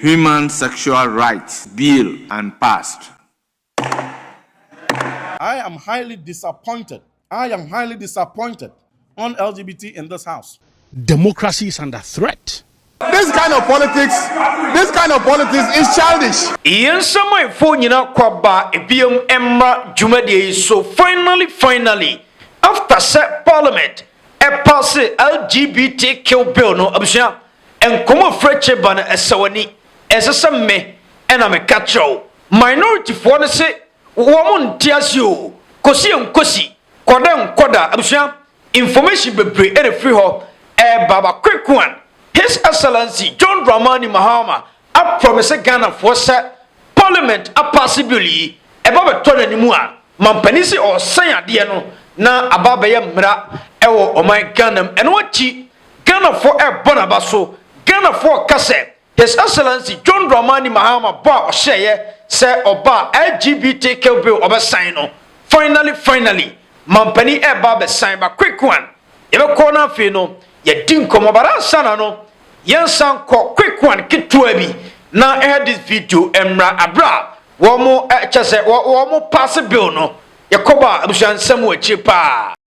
Human Sexual Rights Bill and Passed. I am highly disappointed, I am highly disappointed on LGBT in this house. Democracy is under threat. This kind of politics, this kind of politics is childish. Yɛn nsamanfoɔ nyinaa kɔ aba biom mmra dwumadie yi so finally finally after sɛ parliament paase LGBTQ bill no abusua Nkɔmmɔ frɛ kye ba no ɛsɛ w'ani ɛnsɛ sɛ me ɛna me ka kyerɛ wo minority foɔ no se wɔn nte ase oo kɔsi ɛnkɔsi kɔda ɛnkɔda abusua information bebree ɛna firi hɔ ɛɛba ba quick one his excellency John Dramani Mahama aprɔmise Ghana foɔ sɛ parliament apaase bill yi ɛba bɛtɔ n'anim a mampanin se ɔɔsɛn adeɛ no na aba abɛyɛ mmara ɛwɔ ɔman Ghana mu ɛno akyi Ghanafoɔ rebɔ n'aba so Ghanafoɔ reka sɛ His Excellency John Dramani Mahama bɔ a ɔhyɛeɛ sɛ ɔba a LGBTQ bill ɔbɛsan no Finally finally Mampanin reba abɛsan ba Quick one Yɛbɛkɔ na afei no yɛadi nkɔmmɔ but ansa na no yɛnsan nkɔ Quick one ketewa bi na ɛhɛ this video mmra Aberɛ a wɔn kyɛsɛ wɔn paase bill no yɛkɔba a abusua nsɛm wɔ akyire paa.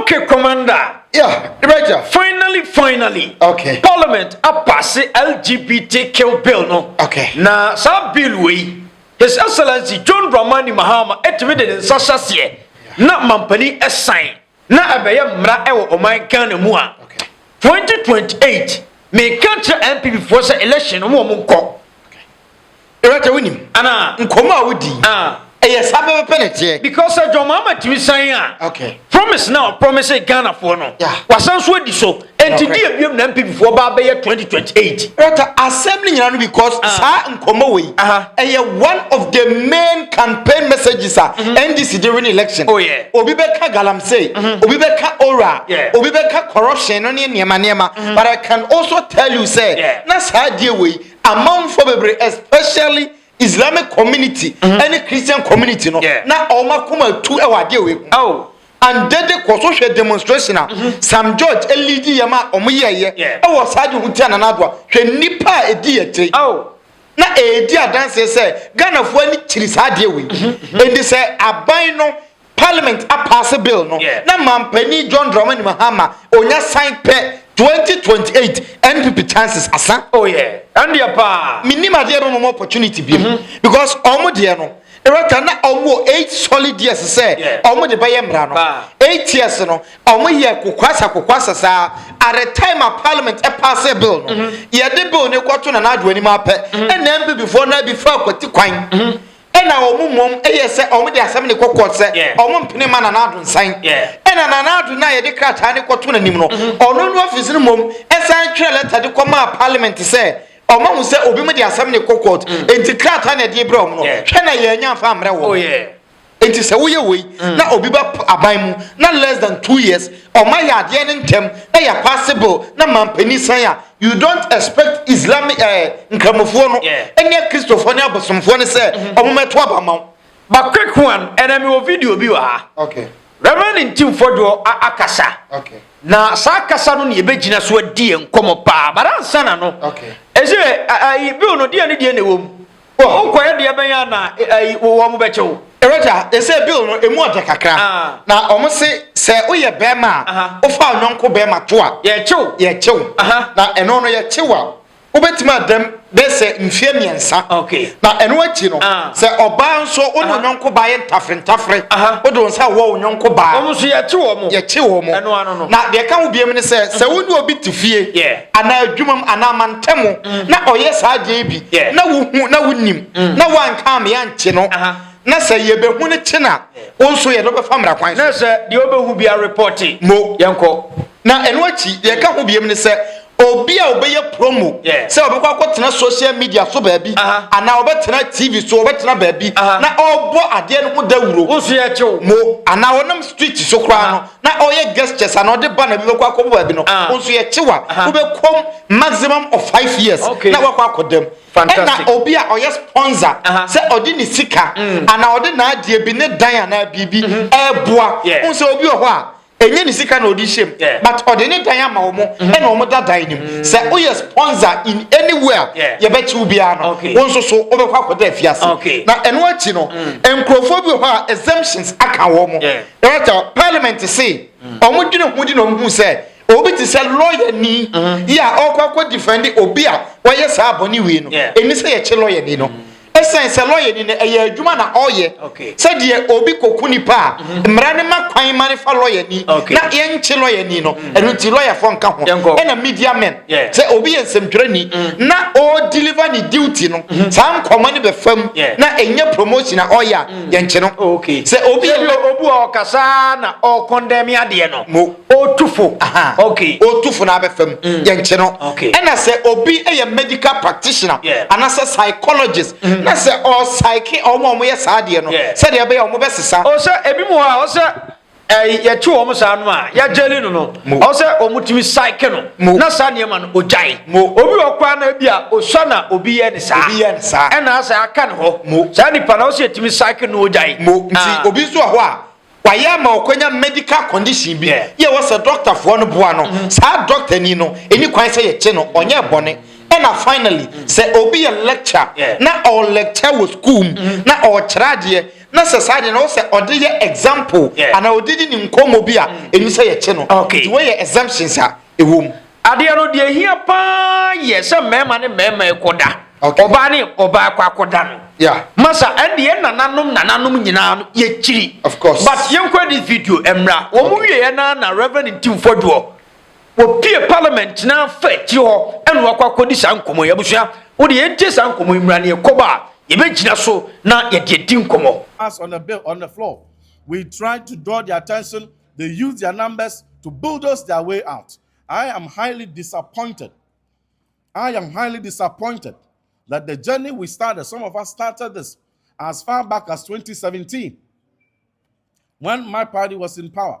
Okay, Commander. Yeah, Director. Finally, finally. Okay. Parliament apase LGBTQ bill no. Okay. Na saa bill wei, His Excellency John Dramani Mahama etumi de ne nsa hyɛ aseɛ na mampanin ɛsan. na ɛbɛyɛ mmara wɔ ɔman ghana mu a 2028 meka kyerɛ npp foɔ sɛ election no wɔn nkɔ ɛwɛtɛ wonim ana nkɔmmɔ a wodi ɛyɛ saa pɛpɛpɛ na ɛteɛ because sɛ john mahama tumi san a promise na ɔpromise ghanafoɔ no wasan so adi so Enti deɛ biom na NPP foɔ baa bɛyɛ 2028. Rata asɛm no nyina no because ah. saa nkɔmmɔ wei uh -huh. ɛyɛ one of the main campaign messages a mm -hmm. NDC de win election. Oh, yeah. Obi bɛka galamsey, mm -hmm. obi bɛka ora, yeah. obi bɛka corruption no ne nneɛma nneɛma. Mm -hmm. But I can also tell you sɛ yeah. na saa deɛ wei amanfoɔ bebree especially islamic community mhm. ɛne christian community no na ɔma kɔma tu ɛwɔ adeɛ wei ho and dede kɔ so hwɛ demonstration a mhm. sam george elidi yɛ ma ɔmo yɛ yɛ ɛwɔ saa de ho ti anana adoa hwɛ nipa a edi yɛ tiri na edi adanseɛ sɛ ghanafoɔ ani kyiri saa adeɛ wei mhm, mhm. edi sɛ aban no Parliament apaase bill no na Manpanin John Dramani Mahama onya san pɛ 2028 NPP chances asa. Oh yeah. Ɛndeɛ paa. Menim adeɛ bɛma mo opportunity biom mhm. because ɔmo deɛ no rɛta na ɔmo wɔ eight solid years sɛ ɔmo de bɛyɛ mmara no eight years no ɔmo yɛ kokwasa kokwasa saa at the time a parliament ɛpaase e bill no mhm. yɛde bill no kɔto na n'adwo anim apɛ mhm. ɛna npp foɔ no abi fa akwati kwan Ɛna wɔn mmom yɛ sɛ wɔde asɛm ne kɔkɔɔ sɛ wɔn mpene ma Nana Addo nsan. Ɛna Nana Addo no a yɛde krataa no kɔto n'anim no, mm-hmm. ɔno ne ɔfisi no mmom san twerɛ lɛta de kɔmaa parliament sɛ ɔma hu sɛ obi mu de asɛm ne kɔkɔɔ mm. nti krataa na ɛde brɛ wɔn no hwɛ na yɛanya mfa mmerɛ wɔn. Oh, nti sɛ woyɛ wei mm. na obi ba aban mu na less than two years ɔma yɛ adeɛ ne ntɛm na yɛ paase bill na mampanin san a you don't expect islamic ɛɛ eh, nkramofoɔ no ɛne akristofoɔ ne abosomfoɔ no sɛ mhm. ɔmo mɛto aba ma wo. but quick one ɛna mi wɔ video bi wɔ ha. okay. reverend ntimfoɔ deɛ akasa. okay. na saa kasa no na yɛbɛgyina so adi yɛn nkɔmɔ paa but ansa na no. okay. ɛsɛ ayi bill no deɛ ne deɛ na ɛwɔ mu. Wo nkɔɛ deɛ bɛn a na ɛyi wɔn bɛkyɛ wo. Ɛwɛgya ɛsɛ bill no ɛmu ɔdɛ kakra na wɔn se sɛ woyɛ bɛɛma a wofa ɔnyɔnko bɛɛma to a yɛkyew yɛkyew na ɛno no yɛkyew a wobɛtumi adam bɛ sɛ mfeɛ mmiɛnsa na ɛno akyi no sɛ ɔbaa nso wo ne onyɔnko baa yɛ ntafere ntafere wode wo nsa wɔ onyɔnko baa wɔn nso yɛkyew wɔn yɛkyew wɔn na deɛ ɛka ho biam ne sɛ sɛ wo ne obi te fie anaa adwumam anaa mantam na ɔyɛ saa adeɛ bi na wohu na wonim mm. na woanka me ankye no na sɛ yɛbɛhu no kye na wo nso yɛde wobɛfa mmara kwan so na sɛ deɛ wobɛhu bia repɔte mo yɛnkɔ na ɛno akyi deɛ ɛka ho biam ne sɛ obi a ɔbɛyɛ promo sɛ ɔbɛkɔ akɔtena social media so baabi anaa ɔbɛtena tv so ɔbɛtena baabi na ɔbɔ adeɛ no ho dawuro mo anaa ɔnam street so koraa no na ɔyɛ gestures ana ɔde ba na bi bɛkɔ akɔbɔ baabi no ah. nso yɛ kyewa ah. wobɛkɔm maximum of five years na wakɔ akɔ dɛm ɛna obi a ɔyɛ sponsor sɛ ɔde ne sika mm. ana ɔde n'adeɛ bi ne dan anaa biribi mm-hmm. ɛɛboa n sɛ obi wɔ hɔ a ɛnyɛ ne sika na ɔde hyɛm but ɔde ne dan ama wɔn mm-hmm. ɛna wɔn da dan nim mm. sɛ woyɛ sponsor in anywhere yɛbɛkyi wo biara no wɔn nso so wobɛkɔ akɔda afiase na ɛno akyi no mm. nkurɔfoɔ bi wɔ hɔ a exemptions aka wɔn Ɛwata parliament se ɔmo dwene ho di na ɔmo hu sɛ obi te sɛ lɔya ni mm-hmm. yi a ɔkɔ akɔ difɛnde obi a wɔyɛ saa bɔne wei no ɛni sɛ yɛkye lɔya ni no mm-hmm. ɛsɛn sɛ lɔya ni no ɛyɛ adwuma na ɔyɛ sɛ deɛ obi kɔku nipa a mm-hmm. mmara ne ma kwan ma ne fa lɔya ni na yɛnkye lɔya ni no ɛno nti lɔyafoɔ nka ho ɛna media men sɛ obi yɛ nsɛmtwerɛ ni na ɔredeliver ne duty no saa nkɔmmɔ ne bɛfam na ɛnyɛ promotion a ɔyɛ a yɛnkye no oh, okay. sɛ obi yɛ obu a ɔkasa na ɔkɔndɛmi adeɛ no mo ɔtufo okay. ɔtufo na abɛfa mu mm. yɛnkye no okay. ɛna sɛ obi yɛ medical practitioner yeah. anasɛ psychologist mm. na sɛ ɔsaike ɔmo a ɔmo yɛ saa adeɛ no yeah. sɛdeɛ ɛbɛyɛ ɔmo bɛsesa ɔsɛ ebi mu hɔ a ɔsɛ ɛyi yɛkye wɔn saa no a yɛagyeli no no ɔwɔ sɛ wɔn tumi saeke no na saa nneɛma no ogyae obi wɔ kwan na ebi a osua na obi yɛ ne saa ɛna asɛ aka ne hɔ saa nipa na ɔwɔ sɛ yɛtumi saeke no ogyae nti ah. obi nso wɔ hɔ a wayɛ ama ɔkwanya medical condition bi yɛ wɔ sɛ dɔktafoɔ no boa no mm-hmm. saa dɔkta ni no ɛni kwan sɛ yɛkye no ɔnyɛ bɔne ɛna finally sɛ obi yɛ lecture na ɔɔ lecture wɔ school mu mm-hmm. na ɔɔkyerɛ adeɛ Na sɛ saa deɛ na ɔsɛ ɔde yɛ example yeah. anaa ɔde di ne nkɔmmɔ bi a mm. ɛnim sɛ yɛkye no okay. nti wɔyɛ exemptions a ɛwɔ mu adeɛ no deɛ hia paa yɛ sɛ mmarima ne mmarima ɛkɔda okay. ɔbaa ne ɔbaa kɔ akɔda no yeah. masa ɛdeɛ nananom nananom nyinaa no yɛkyiri but yɛnkɔ this video mmra wɔn okay. wieɛ na na reverend ntimfɔdoɔ Wɔpue parliament gyina fa akyire hɔ ɛna wakɔ akɔdi saa nkɔmmɔ yi. Abusua, wo deɛ yɛntie saa nkɔmmɔ yi mmra na yɛkɔ ba a, yɛbɛgyina so na yɛde adi nkɔmmɔ. As on the bill on the floor, we try to draw their attention, they use their numbers to bulldoze their way out. I am highly disappointed, I am highly disappointed that the journey we started, some of us started this as far back as 2017 when my party was in power.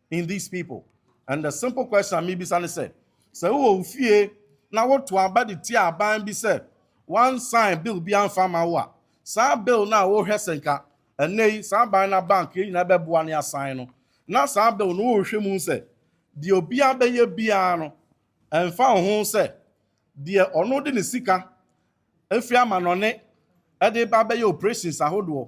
in these people and the simple question a mebisa ne sɛ sɛ wowɔ wo fie na woto aba de tia aban bi sɛ wansan bill bi amfa ma wo a saa bill no a wohwɛ sɛ nka ɛnɛ yi saa aban na bank yɛ nyinaa bɛboa ne asan no na saa bill no wohwɛ mu sɛ deɛ obiara bɛyɛ biara no ɛmfa ho sɛ deɛ ɔno de ne sika firi amanɔne de reba abɛyɛ operations ahodoɔ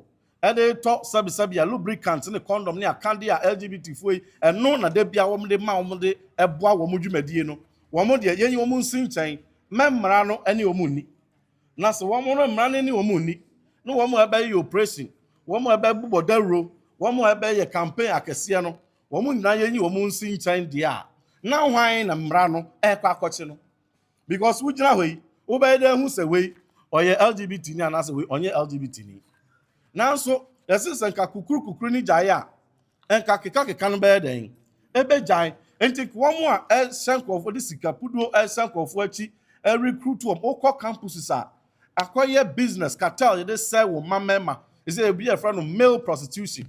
de retɔ sɛbesɛbe a lubricant ne condom ne akadeɛ a LGBTfoɔ yi ɛno na da bia wɔde ma wɔn de boa wɔn dwumadie no wɔn deɛ yɛnyi wɔn nsi nkyɛn mɛ mmara no ne wɔn nni na sɛ wɔn no mmara no ne wɔn nni na wɔn ɛbɛyɛ operation wɔn ɛbɛbobɔ dawuro wɔn ɛbɛyɛ campaign akɛseɛ no Wɔn nyinaa yɛnyi wɔn nsi nkyɛn deɛ a, na hwan na mmara no ɛrekɔ akɔkye no? Because wogyina hɔ yi, wobɛyɛ dɛ hu sɛ wei ɔyɛ LGBT ni anaasɛ wei ɔnyɛ LGBT ni. Nanso yɛse sɛ nka kukuru kukuru ni gyae a, nka keka keka no bɛyɛ dɛn? Ɛbɛgyae. Nti wɔn a ɛhyɛ nkurɔfoɔ de sika puduo ɛhyɛ nkurɔfoɔ akyi ɛrekrutu wɔn, wokɔ campuses a, Akɔyɛ business cartel yɛde sɛe wo mma mmarima. Ɛsɛ ebi a yɛfrɛ no male prostitution.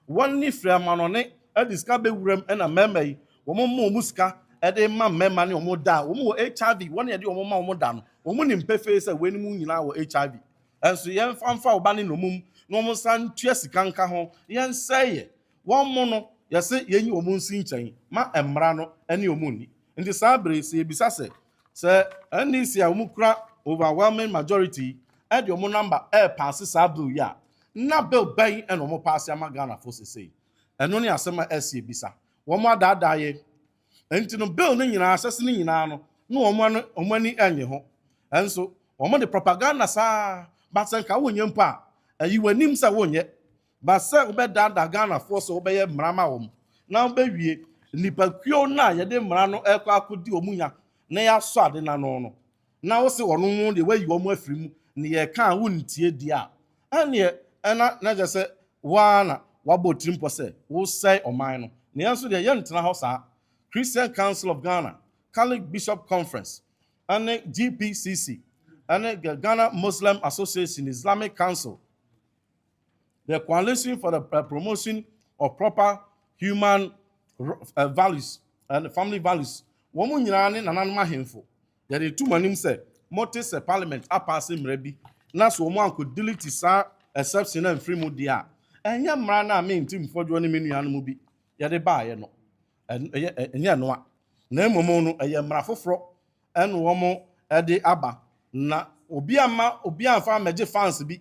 Wɔn ne firi amanɔne ɛde sika bɛ wuram ɛna mmarima yi wɔn mo mo wɔn sika ɛde ma mmarima ne wɔn da a wɔn wɔ HIV wɔn na yɛde wɔn ma wɔn da no wɔn nim pefee sɛ wei nom nyinaa wɔ HIV ɛnso yɛn fa nfa wo ba ne nomum na wɔn nsa ntua sika nka ho yɛn sɛe yɛ Wɔn mo no, yɛse yɛnyi wɔn nsi nkyɛn ma mmara no ne wɔn nni. Nti saa bere yi, sɛ yɛbisa sɛ, sɛ NDC a wɔn kura overwhelming majority yi de wɔn number repaase saa bill yi a, na bill bɛn na wɔn paase ama Ghanafoɔ sesei? Ɛno ne asɛm a ɛse yɛbisa. Wɔn adaadaa yɛ. Nti no bill no nyinaa, asɛse no nyinaa no, na wɔn ano, wɔn ani nnye ho. Nso wɔn de propaganda saa ara, but sɛ nka wonyɛ mpo a, yi w'anim sɛ wonyɛ. Ba sɛ wobɛdaadaa Ghanafoɔ sɛ wobɛyɛ mmara ma wɔn na wobɛwie nnipakuo no a yɛde mmara no rekɔ akɔdi wɔn nya na yɛasɔ ade no ano no, na wose wɔn no deɛ woayi wɔn afiri mu na yɛreka a wontie deɛ a, ɛnneɛ na na kyerɛ sɛ wo ara na woabɔ tirimpɔ sɛ woresɛe ɔman no. Na yɛn nso deɛ yɛntena hɔ saa. Christian Council of Ghana, Catholic Bishop Conference, ne GPCC, ne Ghana Muslim Association, Islamic Council, The Coalition for the uh, Promotion of Proper Human uh, Values and Family Values. Wɔn nyinaa ne nananom ahemfo. Yɛde to mo anim sɛ mote sɛ parliament apaase mmerɛ bi na so wɔn anko delete saa exception na mfiri mu deɛ a ɛnyɛ mmara no a me nti mfɔdwoɔ ne me nuanom bi yɛde baeɛ no ɛnyɛ ɛnoa na mmom no ɛyɛ mmara foforɔ ɛne wɔn ɛde aba na obi ama obi amfa mɛgye fans bi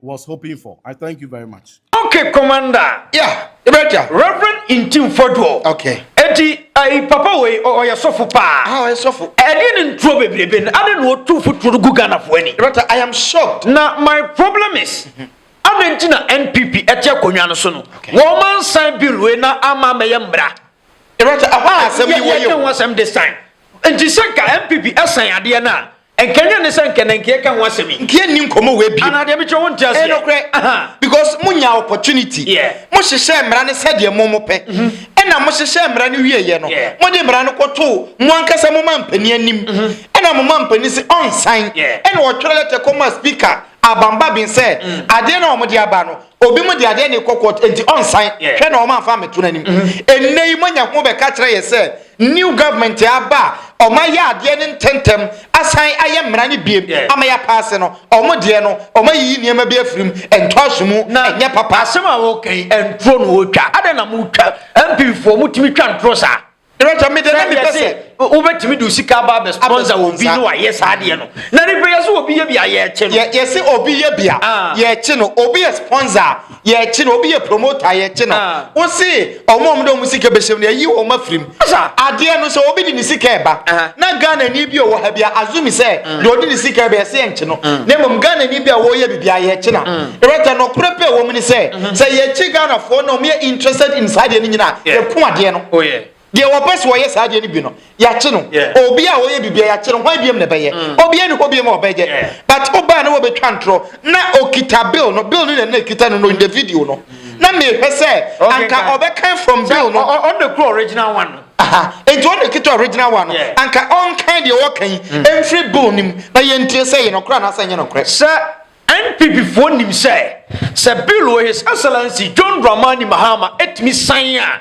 was hoping for. I thank you very much. Okay, Commander. Yeah, Ibeja. Reverend Intim Foduo. Okay. Eti, ayi eh, papa wei ɔyɛ sɔfo paa. Ah, ɔyɛ sɔfo. Ɛdeɛ ne ntuo bebrebe no, ade na ɔtu fotuo no gu Ghanafoɔ ani. Ibeja, I am shocked. Na my problem is. Mm -hmm. Ade nti na NPP ɛte akonnwa no so no. Wɔn ma nsan bill wei na ama amɛyɛ mmara. Ibeja, ɛhɔ a asɛm yi wɔ yɛ o. Yɛ yɛ wɔn asɛm this time. Nti sɛ nka NPP ɛsan adeɛ no a. Nkanyan ne sɛ nka na nka yɛka ho asɛm yi. Nka yɛnni nkɔmmɔ wei bio. Anaa deɛ mekyerɛ wonte aseɛ. Ɛyɛ nokorɛ. Because monyaa opportunity. Yeah. Mohyehyɛɛ mmara no sɛdeɛ mo mopɛ. Mm-hmm. Ɛna mohyehyɛɛ mmara no wieeɛ no. Yeah. Mode mmara no kɔtoo mo ankasa mo mampanin anim. Mm-hmm. Ɛna mo mampanin se ɔnsan. Yeah. Ɛna ɔtwerɛ lɛtɛ kɔmaa speaker Abambabin sɛ mm. adeɛ no a wɔde aba no Obi mo de adeɛ ne kɔ court enti ɔnsan hwɛ na ɔma afa ameto n'anim. Ennɛ yi moanya ho bɛka kyerɛ yɛ sɛ new government aba a ɔma yɛ adeɛ no ntɛntɛm asan ayɛ mmara no biem ama yɛ apaase no. Ɔmo deɛ no ɔma yiyi nneɛma bi afiri mu ɛntɔ aso mu ɛnyɛ papa. Asɛm a woka yi nturo na wotwa? Adɛn na motwa? MP foɔ motumi twa nturo saa? Rachel, me deɛ na mepɛ sɛ wobɛtumi de sika aba abɛ sponsor wɔ bi no ayɛ saa deɛ no na ne bɛyɛ sɛ obi yɛ bia yɛkye no yɛse obi yɛ bia ah. yɛkye no obi yɛ sponsor yɛkye no obi yɛ promoter yɛkye no ah. wo se ɔmo ɔmo de ɔmo sika bɛhyɛm no yɛyi wɔn afirim adeɛ no sɛ obi de ne sika ɛba na Ghana ni bi ɔwɔ ha bia azumi sɛ deɛ ɔde ne sika bɛyɛ sɛ yɛnkye no mm. na mmom ghanani bi a wɔyɛ biribi a yɛkye na ɛbɛta mm. nɔkorɛ pɛ wɔ mu ne sɛ mm-hmm. sɛ yɛkye ghanafoɔ na wɔyɛ interested in saa deɛ no nyina a yɛko adeɛ no oh, deɛ wɔpɛ sɛ wɔyɛ saa deɛ no bi no yɛakye no obi a wɔyɛ biribi a yɛakye no hwan biam na ɛbɛyɛ mm. obiɛ ne hɔ biam a ɔbɛyɛ but wobaa ne wɔbɛtwa ntorɔ na ɔkita bill no bill no na na ɛkita no no in the video no na mehwɛ sɛ anka ɔbɛkan from bill no ɔde kuro original one no Aha, enti wɔn na kita original one no. Anka ɔnkan deɛ ɔɔka yi mfiri bill no mu na yɛntie sɛ ɛyɛ nɔkorɛ anaasɛ ɛnyɛ nɔkorɛ. Sɛ NPP foɔ nim sɛ sɛ bill wɔ His Excellency John Dramani Mahama ɛtumi san a,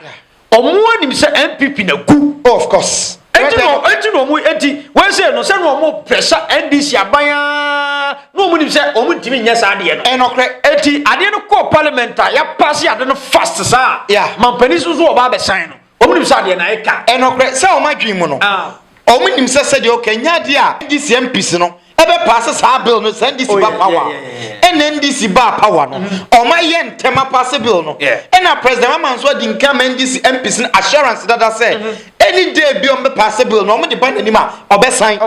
ɔmo anim sɛ NPP na gu. Oh, of course. Enti na enti na ɔmo enti wei sɛ no sɛ na ɔmo pɛ sɛ NDC aban a na ɔmo nim sɛ ɔmo ntumi nyɛ saa adeɛ no. Ɛyɛ nɔkorɛ. Enti adeɛ no kɔɔ parliament a yɛapaase ade no fast saa a, Yeah. mampanin so nso wɔba abɛsan no. Wɔn nim sɛ adeɛ na ɛka. Ɛnokorɛ sɛ wɔn adwene mu no, wɔn nim sɛ sɛdeɛ ɔka nyɛ adeɛ a NDC MPs no ɛbɛ paase saa bill no sɛ NDC ba power a. Ɛna NDC baa power no, wɔn ayɛ ntɛm apaase bill no. Ɛna President Mahama nso adi nka ama NDC MPs no assurance dada sɛ any day bi wɔn bɛ paase bill no, wɔn de ba n'anim a ɔbɛsan.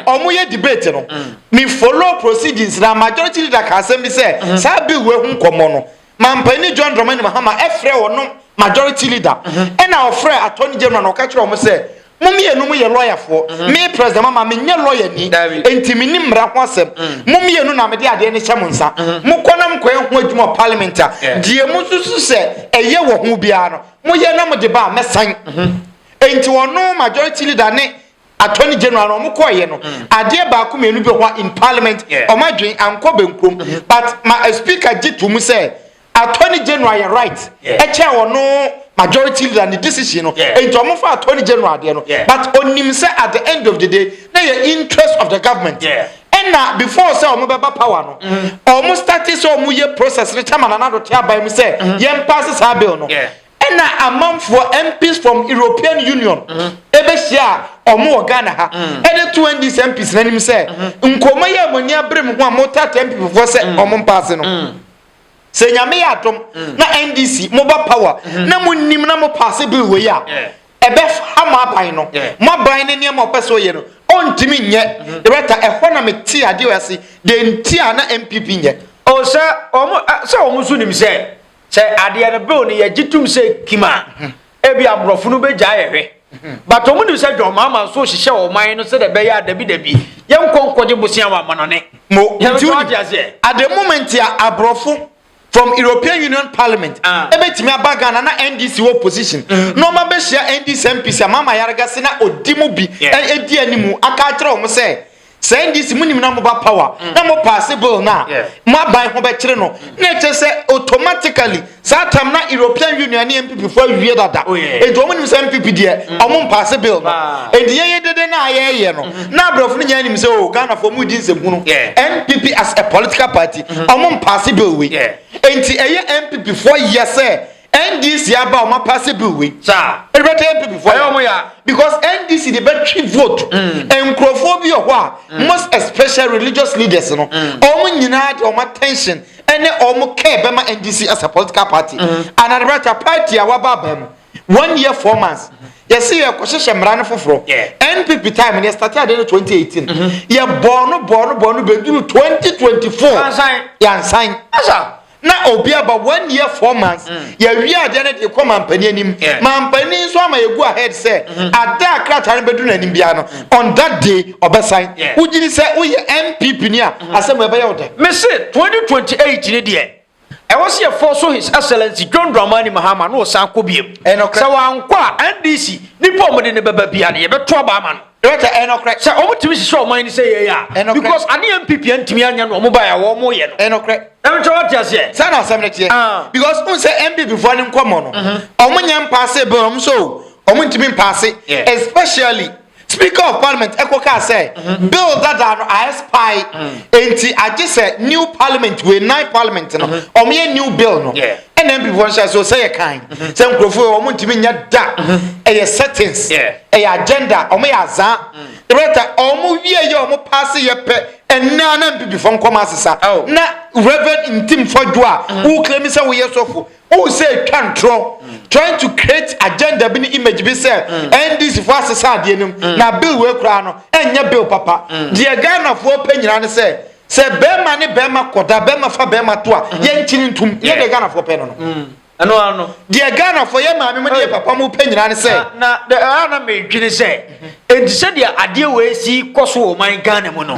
Wɔn yɛ debate no, me follow proceedings na majority leader ka asɛm bi sɛ saa bill wei ho nkɔmɔ no Mampanyin John Dramani Mahama frɛɛ wɔnom Majority Leader ɛna ɔfrɛɛ Attorney General na ɔka kyerɛɛ wɔn sɛ, Mo mmienu mo yɛ lɔyafoɔ, me President Mahama me nyɛ lɔyani, enti me nim mmara ho asɛm, mo mmienu na mede adeɛ no hyɛ mo nsa, mo kɔ na mo kɔ yɛ ho adwuma wɔ Parliament a deɛ mo susu sɛ ɛyɛ wɔ ho biara no mo yɛ na mo de ba a mɛsan. Enti wɔnom Majority Leader ne. Attorney General no ɔmo kɔɔ yɛ no adeɛ baako mmienu bi wɔ hɔ a in parliament ɔmo adwen ankɔ bɛnkurom but ma a speaker gye to mu sɛ Attorney General yɛ right ɛkyɛn ɔno majority leader ne decision no nti ɔmo fa Attorney General adeɛ no but onim sɛ at the end of the day na yɛ interest of the government ɛna before sɛ ɔmo bɛba power no ɔmo starte sɛ ɔmo yɛ process no kyɛma Nana Addo te aban mu sɛ yɛn paase saa bill no. Ɛna amanfoɔ MPs from European Union ɛbɛhyia a ɔmo wɔ Ghana ha ɛde too NDC MPs n'anim sɛ nkɔmɔ yi a mo ani abere mo ho a mo taataa NPP foɔ sɛ ɔmo mpaase no sɛ Nyame yɛ adom na NDC mo ba power na mo nim na mo paase bill wei a ɛbɛha mo aban no mo aban ne nneɛma ɔpɛ sɛ ɔyɛ no ɔntumi nyɛ Loretta ɛhɔ na me tee adeɛ wei ase deɛ nti a na MPP nyɛ. Oh sɛ ɔmo sɛ ɔmo nso nim sɛ. sɛ adeɛ no bill no yɛgye tom sɛ kim a ebi aborɔfo no bɛgya yɛhwɛ but wɔn nim sɛ john mahama nso hyehyɛ wɔn man no sɛ dɛ bɛyɛ a dabi dabi yɛn nkɔ nkɔgye bosia wɔ amanɔne mo nti wo di aseɛ at the moment a aborɔfo from european union parliament ah. ɛbɛtumi aba ghana na ndc wɔ position mm. na ɔma bɛhyia ndc mpc a mahama yarega se na ɔdi mu bi ɛdi anim aka akyerɛ wɔn sɛ sɛ ndc mo nim na mo ba power mm. na mo paase bill no a mo aban ho bɛkyere no mm. na ɛkyɛ sɛ automatically saa tam na european union ne npp fo awie dada oh, nti wɔn nim sɛ npp deɛ mm. wɔn mpaase bill no ah. nti yɛyɛ dede na yɛyɛ no mm-hmm. na abrɛfo no nyinaa nim sɛ o oh, ghana fo mu di nsɛmhunu npp as a political party wɔn mm-hmm. mpaase bill wei nti ɛyɛ npp fo yɛ sɛ. NDC aba a wɔn apaase bill wei. Saa. Ɛde bɛtɛ NPP fo. Ɛyɛ wɔn ya. Because NDC de bɛtwe vote. Mm. Nkurɔfoɔ bi wɔ hɔ a mm. most especially religious leaders no. Mm. Wɔn nyinaa de wɔn attention ɛne wɔn care bɛma NDC as a political party. Mm. And ɛde bɛtɛ party a waba aba mu one year four months. Mm. yɛsi yɛ kɔhyehyɛ mmara no foforɔ npp time no yɛstate ade no 2018 yɛbɔɔ no bɔɔ no bɔɔ no bɛduru 2024 yansan na obi aba one year four months mm. yɛwie adeɛ no de kɔ mampanin anim mampanin nso ama yɛgu ahead sɛ mm-hmm. ada a krataa no bɛduru n'anim biara no mm. on that day ɔbɛsan wogyini sɛ woyɛ npp ni a mm-hmm. asɛm ɛbɛyɛ wo dɛ mese 2028 ne deɛ ɛwɔ sɛ yɛfɔ so his excellency john dramani mahama na ɔsan kɔ biam sɛ wankɔ a ndc nipa ɔmode ne bɛba bia no yɛbɛto aba ama no Ɛyɛ ɛnɔkorɛ sɛ ɔmo tumi hyehyɛ ɔman ni sɛ yɛyɛ a because ade yɛ npp antumi anyɛ no ɔmo baeɛ a wɔmo yɛ no ɛnɔkorɛ ɛnkyɛ wɔte aseɛ saa na asɛm no teɛ ah. because n sɛ npp foɔ ne nkɔmmɔ no mhm. ɔmo nyɛ mpaase bɛn ɔmo sɛ o ɔmo ntumi mpaase especially speaker of parliament ɛkɔ kaa sɛ mhm. bill dada no aɛspae mhm. enti agye sɛ new parliament wei nine parliament no ɔmo yɛ new bill no NNPP fo nhyɛ so sɛ yɛ kan sɛ nkurɔfo yɛ wɔn ntumi nyɛ da ɛyɛ settings ɛyɛ agenda wɔn yɛ azaa ɛbɛta wɔn wie yɛ wɔn paase yɛ pɛ ɛnna na NPP fo nkɔm asesa na reverend ntim fɔdwo a wokura mi sɛ woyɛ sɔfo wohu sɛ ɛtwa ntorɔ trying to create agenda bi ne image bi sɛ NDC fo asesa adeɛ no mu na bill wei koraa no ɛnyɛ bill papa deɛ Ghanafoɔ pɛ nyinaa ne sɛ Sɛ bɛɛma ne bɛɛma kɔda, bɛɛma fa bɛɛma to a, yɛ nkyini ntom. Nyɛ deɛ Ghanafoɔ pɛ no no. Mm. Ɛno ara no. Deɛ Ghanafoɔ, yɛ maame mo ne yɛ papa mo pɛ nyinaa ne sɛ. Na na ɛha na medwene sɛ, enti sɛdeɛ adeɛ wɔ esi kɔ so wɔ ɔman Ghana mu no,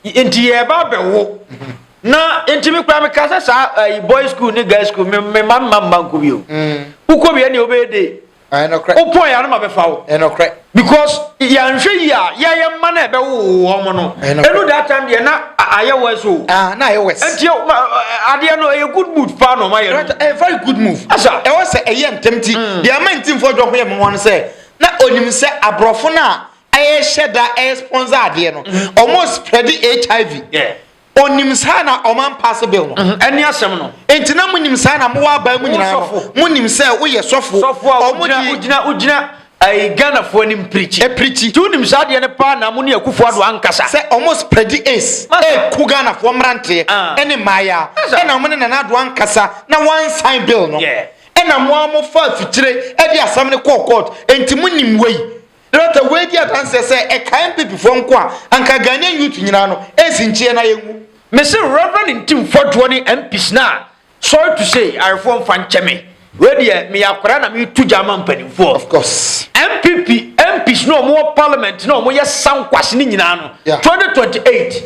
enti yɛreba abɛwo. Na enti me koraa meka sɛ saa boys school ne girls school, me mma mma mma nkɔ bio. Wokɔ bia nea wobɛyɛ de Wopɔn yɛ anoma bɛfa wo. Ɛnɔkorɛ. Because yɛanhwɛ yi a yɛyɛ mma na ɛbɛwo wɔn no. Ɛnu that time deɛ na ayɛ worse o. Ah na ayɛ worse. Nti adeɛ no ɛyɛ good move paa na ɔma yɛ no. Ɛyɛ very good move. Asa. Ɛwɔ sɛ ɛyɛ ntɛm ti. Mm. Deɛ ama nti nfɔ dwɔ ho yɛ mma wɔn sɛ na onim sɛ aborɔfo no a ɛyɛ hyɛ da ɛyɛ sponsor adeɛ no. Wɔn mm-hmm. spread HIV. Yeah. Onim saa na ɔma mpaase bill no. Mhm. Ɛne asɛm no. Enti na monim saa na mowɔ aban mu nyinaa no. Monim sɛ woyɛ sɔfo. Sɔfo a wogyina wogyina ayi Ghanafoɔ anim pirikyi. Ɛpirikyi. Nti wonim saa adeɛ no paa na mo ne Akufo Addo ankasa. Sɛ ɔmo spreadi ace ɛku Ghanafoɔ mmeranteɛ ah. ɛne mmaayaa ɛna ɔmo ne Nana Addo ankasa na wɔansan bill no. Ɛna mo a mofaa fikyire ɛde asɛm no kɔɔ court. Enti monim wei. Director wei di adanseɛ sɛ ɛkae mpepifoɔ nko a anka Ghanaian youth nyinaa no ɛnsi nkyeɛ na yɛnwu. Me se Reverend Ntim Fɔdoɔ ne MPs no a sorry to say ayerefoɔ mfa nkyɛ me wei deɛ meyɛ akwadaa na mereto gya ama mpanimfoɔ. Of course. NPP MPs no a wɔwɔ parliament no a wɔyɛ sankwase no nyinaa no yeah. 2028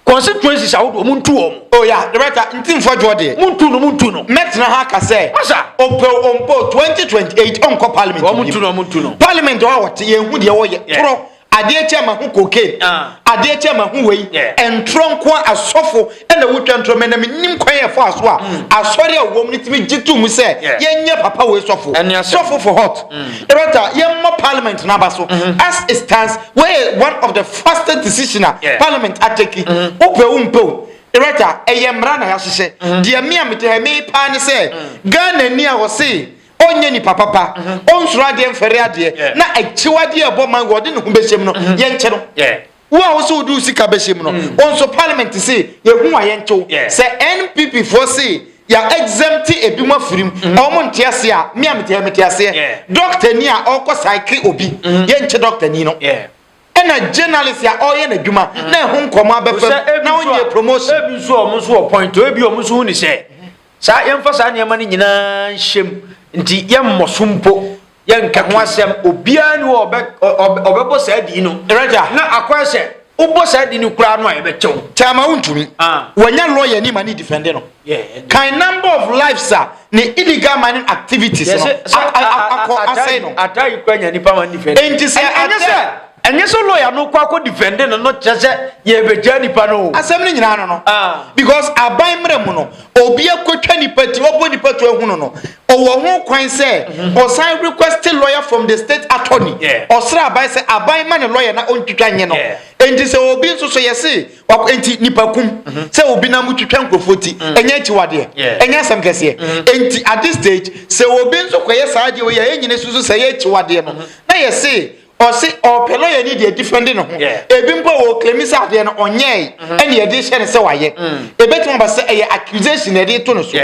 Constituencies ahodoɔ montu wɔn. Oh yeah the right time nti mfɔdwoɔ deɛ. Montu no montu no mɛtena ha aka sɛ Masha. Ɔpɛ o ɔmpɛ o 2028 ɔnkɔ parliament biem. Wɔntu no wɔntu no. Parliament hɔ a wɔte yɛn hu deɛ wɔyɛ torɔ adeɛ kyɛ ma ho cocaine adeɛ kyɛ ma ho wei ntorɔ nkoa asɔfo ɛna wotwa ntorɔ mɛ na menim kwan yɛ faa so a asɔre a wɔm no tumi gye tom sɛ yɛnyɛ papa wei sɔfo sɔfo for hot the right time yɛmmɔ parliament no aba so as it stands Woeyɛ one of the fastest decision a parliament a take, wo pɛ wo mpɛ o, Erata, ɛyɛ mmara na yɛahyehyɛ. Deɛ me a mete ha yi me ye paa ne sɛ, Ghanani a ɔse ɔnyɛ nipa papa, ɔnsuro adeɛ mfɛre adeɛ, na akyiwadeɛ a ɛbɔ man wei ɔde ne ho bɛhyɛ mu no, yɛnkye no. Wo a wose wode wo sika bɛhyɛ mu no, wo nso parliament se yɛhu a yɛnkye wo. Sɛ NPP foɔ se Yɛ exempt ebinom afiri mu. Mm-hmm. Ɔmo nte aseɛ a, me a mete ha mete aseɛ. Doctor ni a ɔkɔ psyche obi, mm-hmm. yɛ nkyɛ doctor ni no. Ɛna journalist a ɔyɛ n'adwuma mm-hmm. na ɛho nkɔmɔ abɛfam na ɔnyɛ promotion. Ebi nso ɔmo nso wɔ point o, ebi ɔmo nso hu ni sɛ saa yɛmfa saa nneɛma no nyinaa nhyɛm nti yɛmmɔ so mpo. Yɛnka ho asɛm, obiara ni hɔ a ɔbɛbɔ saa din no. Na akɔyɛ sɛ wobɔ saa din no koraa no a ɛbɛkyɛ wo. Kyɛ ama wontumi. Ah. Wɔanya lɔya ni ma ne defɛnde no. Kan number of lives a ne illegal mining activities no akɔ asɛe no. Ata yi kura nya nipa ma ne defɛnde. Enti sɛ ɛnyɛ sɛ ɛnyɛ sɛ lɔya no kɔ akɔ defɛnde no no kyerɛ sɛ yɛbɛgya nipa no o. Asɛm no nyinaa no no. Ah. Because aban mmerɛ mu no obi akɔtwa nipa ti ɔbɔ nipa to ahunu no ɔwɔ ho kwan sɛ mm-hmm. ɔsan request lawyer from the state attorney ɔsrɛ aban sɛ aban ma ne lawyer na ɔntwitwa nye no nti sɛ obi nso so yɛse nti nipa kum mm-hmm. sɛ obi nam twitwa nkurɔfoɔ ti mm. ɛnyɛ akyiwadeɛ ɛnyɛ asɛm kɛseɛ mm-hmm. nti at this stage sɛ obi nso kɔyɛ saa adeɛ wei a ɛnyine susu sɛ ɛyɛ akyiwadeɛ no na yɛse Ɔse ɔpɛ lɔya ni deɛ defende ne ho. Ebi mpo a ɔclaimi sɛ adeɛ no ɔnyɛɛe mm-hmm. ɛne yɛde hyɛ no sɛ wayɛ. Mm. Ebetumi aba sɛ ɛyɛ accusation na yɛde to no so.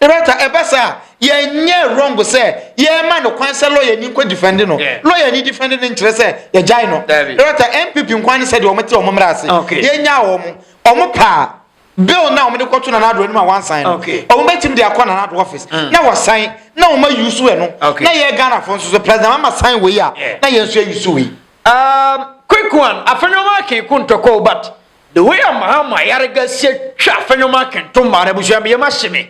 Rata ɛba sɛ a yɛnyɛ wrong sɛ yɛma no kwan sɛ lɔya ni nkɔ defende no. Lɔya ni defende no nkyerɛ sɛ yɛgyae no. Rata NPP nkwa ne sɛ deɛ wɔte wɔn mmerɛ ase. Yɛnyaa wɔn. Wɔn paa. bill na wɔn de kɔto nana ado anim a wansan no wɔn bɛtumi de akɔ nana ado office mm. na wɔsan na wɔn ayi so ɛno na yɛ ghana fo nso so president ama san wei a na yɛn nso ayi so wei. Um, quick one afɛnwoma akenko ntɔkɔ but the way a mahama ayarega sie twa afɛnwoma akento mmaa na abusua bi yɛ ma hye me.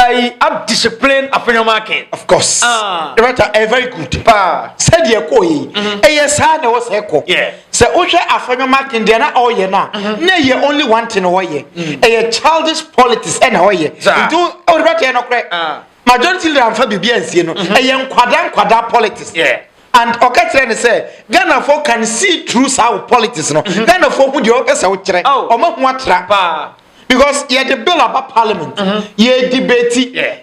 I am disciplined afenyɔma akin. Of course. Ah. Rata ɛyɛ very good. Paa. Sɛdeɛ ɛkɔɔ yi. Mhm. Ɛyɛ saa na ɛwɔ sɛ ɛkɔ. Yeah. Sɛ wohwɛ afenyɔma akin deɛ na ɔyɛ na. Mhm. Na ɛyɛ only one thing ɔyɛ. Mm. Ɛyɛ childish politics ɛna ɔyɛ. Zaa. Nti ɔde bɛ tɛ ɛnɔkorɛ. Ah. Majority leader anfa bibi ansie no. Mhm. Ɛyɛ nkwadaa nkwadaa politics. Yeah. And ɔka kyerɛ ne sɛ Ghana fo can see through saa politics no. Ghana fo hu deɛ ɔpɛ sɛ ɔkyerɛ. Ɔmo ho atra. Paa. because yɛde bill aba parliament mhm. yɛ debate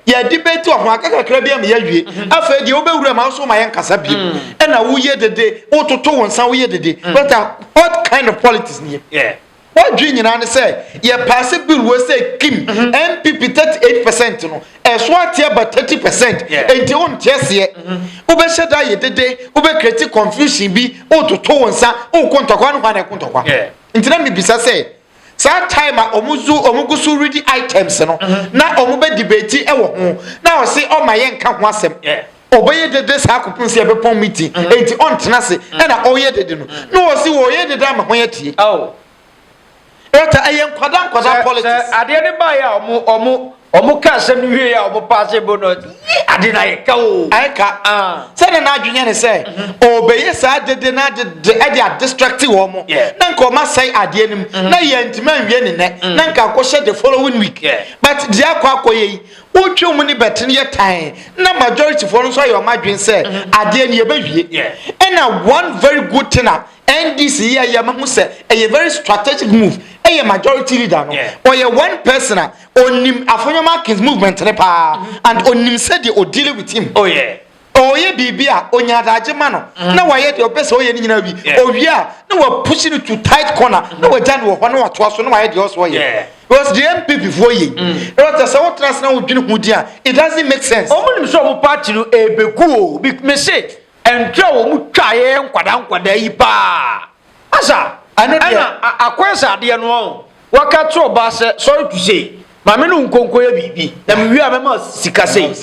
yɛ debate wɔ ho aka kakra bi ama yɛawie mhm. afei deɛ wobɛwura ma nso ma yɛnkasa bio mhm. ɛna woyɛ dede wototo wo nsa woyɛ dede but uh, what kind of politics ni yɛ wadwi nyinaa ne sɛ yɛ paase bill wɔ sɛ kim npp thirty eight percent no ɛso ateɛ ba thirty percent nti wo nteɛ seɛ wobɛhyɛ da yɛ dede wobɛkreti confusion bi wototo wo nsa wokɔ ntɔkwa no hɔ ana ɛko ntɔkwa nti na mebisa sɛ Saa time a ɔmo zu ɔmo gu so redi items no na ɔmo bɛ debate wɔ ho na ɔse ɔma yɛ nka ho asɛm. Ɔbɛyɛ dede saa kɔpem sɛ yɛbɛpɔn meeting enti ɔntena ase ɛna ɔyɛ dede no na ɔse wɔyɛ dede ama hɔn atie. Ɔta ɛyɛ nkwadaa nkwadaa politics. Sɛ adeɛ no baeɛ a ɔmo ɔmo Wɔn ka asɛm no wie a wɔn paase bo no yi ade no ayɛ ka o. Ayɛ ka. Ah. Sɛdeɛ n'adwene yɛ ne sɛ ɔrebɛyɛ saa ade de no ade de ɛde adistracte wɔn. Yeah. Na nka wɔn asɛe adeɛ no mu. Mm. Na yɛntumi anwie ne nɛ. Mm. Na nka akɔhyɛ the following week. Yeah. But deɛ akɔ akɔyɛ yi wotwa wɔn ne bɛte no yɛ tan na majority foɔ no nso ayɛ wɔn adwene sɛ mm-hmm. adeɛ no yɛbɛwie. Yeah. Ɛna one very good thing a NDC yɛ yɛ ma ho sɛ ɛyɛ very strategic move ɛyɛ majority leader no. Yeah. Ɔyɛ one person a Onim Afonyam Atkins movement no paa and onim sɛdeɛ o deal with him. Oh yeah. Ɔyɛ biribi a onya adagye ma no mm-hmm. na wayɛ deɛ ɔpɛ sɛ ɔyɛ no nyinaa wi. Owie a na wapushi no to tight corner mm-hmm. na wagya no wɔ hɔ na watoa so na wayɛ deɛ ɔsɛ ɔyɛ. Because the MPP foɔ yɛ. Ɛwɔ sɛ sɛ wotena ase na wodwene ho di a it doesn't make sense. Wɔn nim sɛ wɔn party no ebegu o. Mese ntwa wɔn twa yɛ nkwadaa nkwadaa yi paa. Asa, ɛno deɛ. Ɛna akɔyɛ sɛ adeɛ no ɔn. Waka kyerɛ ɔbaa sɛ, sorry to say, maame no nkɔ nkɔyɛ biribi, na mewie a mɛma sika sei.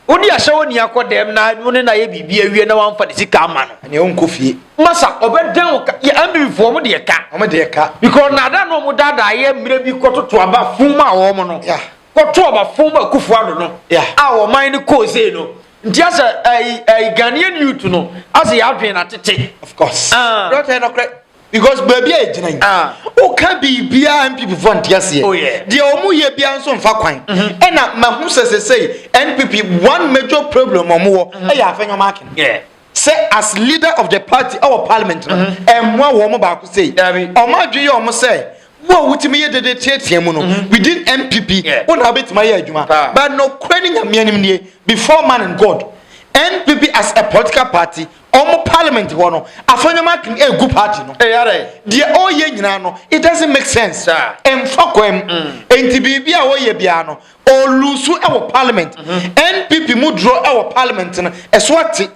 Wode ahyɛ wo ni akɔ dɛm na wo ne no ayɛ biribi awie na wamfa ne sika amma no. Ɛneɛ wonkɔ fie. Masa, ɔbɛdan wo ka. Yɛ Ambibifoɔ, wɔn deɛ ka. Wɔn deɛ ka. Because nnaadaa no wɔn daadaa yɛ mmerɛ bi kɔtoto aba fun mu a wɔn no. Yeah. Kɔto aba fun mu a Kufuor no. Yeah. A wɔn man no kɔɔ sei no, Nti asɛ ɛyi ɛyi Ghanaian youth no asɛ yɛ adwene na tete. Of course. Ah. Dɔkita nɔkorɛ because baabi a egyina yi. Ah. Oka biribiara NPP fo nti aseɛ. Oh yeah. Deɛ wɔn yɛ biara nso nfa kwan. Mm-hmm. Ɛna mahu sɛ sɛsɛyi NPP one major problem wɔn wɔ ɛyɛ afɛnyɔm akin. Yeah. sɛ as leader of the party ɛwɔ parliament no mhm. ɛmmoa wɔn baako sei wɔn adwene yɛ wɔn sɛ wo a wotumi yɛ dede teatea mu no mhm. within npp wo na wobɛtumi ayɛ adwuma but nokorɛ ne nyame anim nie before man and god npp as a political party ɔmo parliament hɔ no afɔnyɛm akin egu party no deɛ ɔyɛ nyinaa no it doesn't make sense ɛnfa kwan mu nti biribi a ɔyɛ biara no Ɔluusu wɔ parliament. NPP mu duro wɔ parliament no ɛso ate.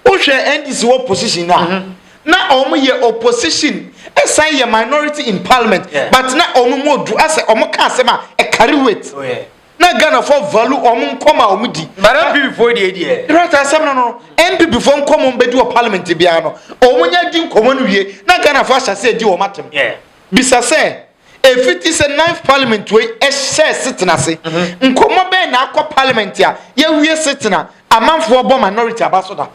Wohwɛ NDC wɔ position no a na wɔn yɛ opposition ɛsan yɛ minority in parliament but na wɔn mu odu asɛ wɔn ka asɛm a ɛkari weight. Na Ghana fo value wɔn nkɔm a wɔn di. But NPP fo deɛ deɛ. Right asɛm no no NPP fo nkɔm wɔn bɛdi wɔ parliament biara no wɔn nyɛ di nkɔmɔ no wie na Ghana fo ahyɛ asɛ di wɔn atem. Bisa sɛ. Efiti sɛ Ninth Parliament wei hyɛɛ setena ase, nkɔmmɔ bɛn na akɔ Parliament a yɛawie setena amanfoɔ bɔ minority aba so da?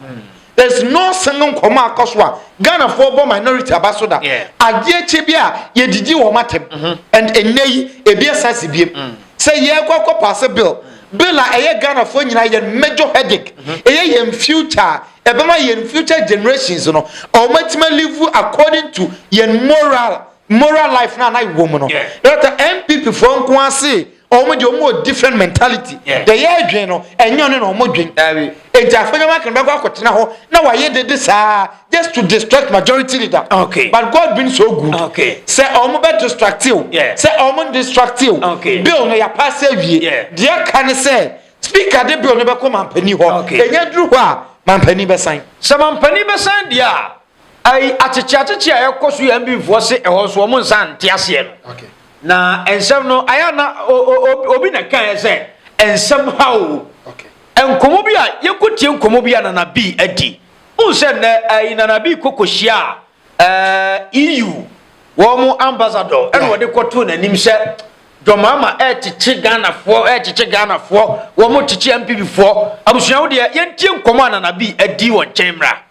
There is no single nkɔmmɔ a akɔ so a Ghanafoɔ bɔ minority aba so da. Adeɛ kyɛ bi a yɛdidi wɔn atɛm and ɛnnɛ yi ebi ɛsan si biem sɛ yɛrekɔ akɔ paase bill, bill a ɛyɛ Ghanafoɔ nyinaa yɛn major headache, ɛyɛ yɛn future a ɛbɛma yɛn future generations no wɔatumi alive according to yɛn moral Moral life no a na yɛwɔ mu no. Dɔkta NPP foɔ nko ara se wɔn deɛ wɔn wɔ different mentality. Deɛ yɛredwen no ɛnyɛ ɔno na wɔn dwen. Enti Afonyam Akan bɛkɔ akɔtena hɔ na wayɛ dede saa just to distract majority leader. But God been so good. Sɛ wɔn bɛ distracte o, sɛ wɔn ndistracte o, bill no yɛapaase awie. Deɛ aka ne sɛ Speaker de bill no bɛkɔ Mampanin hɔ. Ɛnya duru hɔ a, Mampanin bɛsan. Sɛ Mampanin bɛsan deɛ a, Ayi akyekye akyekye a ɛkɔ so yɛ mbinfoɔ se ɛhɔ nso wɔn nsa nte aseɛ no okay. na nsɛm no ayɛ na obi na kan sɛ nsɛm ha o okay. nkɔmɔ bi a yɛkɔ tie nkɔmɔ bi a nana bi adi n sɛ nnɛ ayi nana bi kɔkɔ hyia a ɛɛ EU wɔn ambassador ɛna wɔde kɔto n'anim sɛ dɔmama ɛkyekye ghanafoɔ ɛkyekye ghanafoɔ wɔn kyekye mpp foɔ abusua wo deɛ yɛntie nkɔmɔ a nana bi adi wɔn nkyɛn mmra.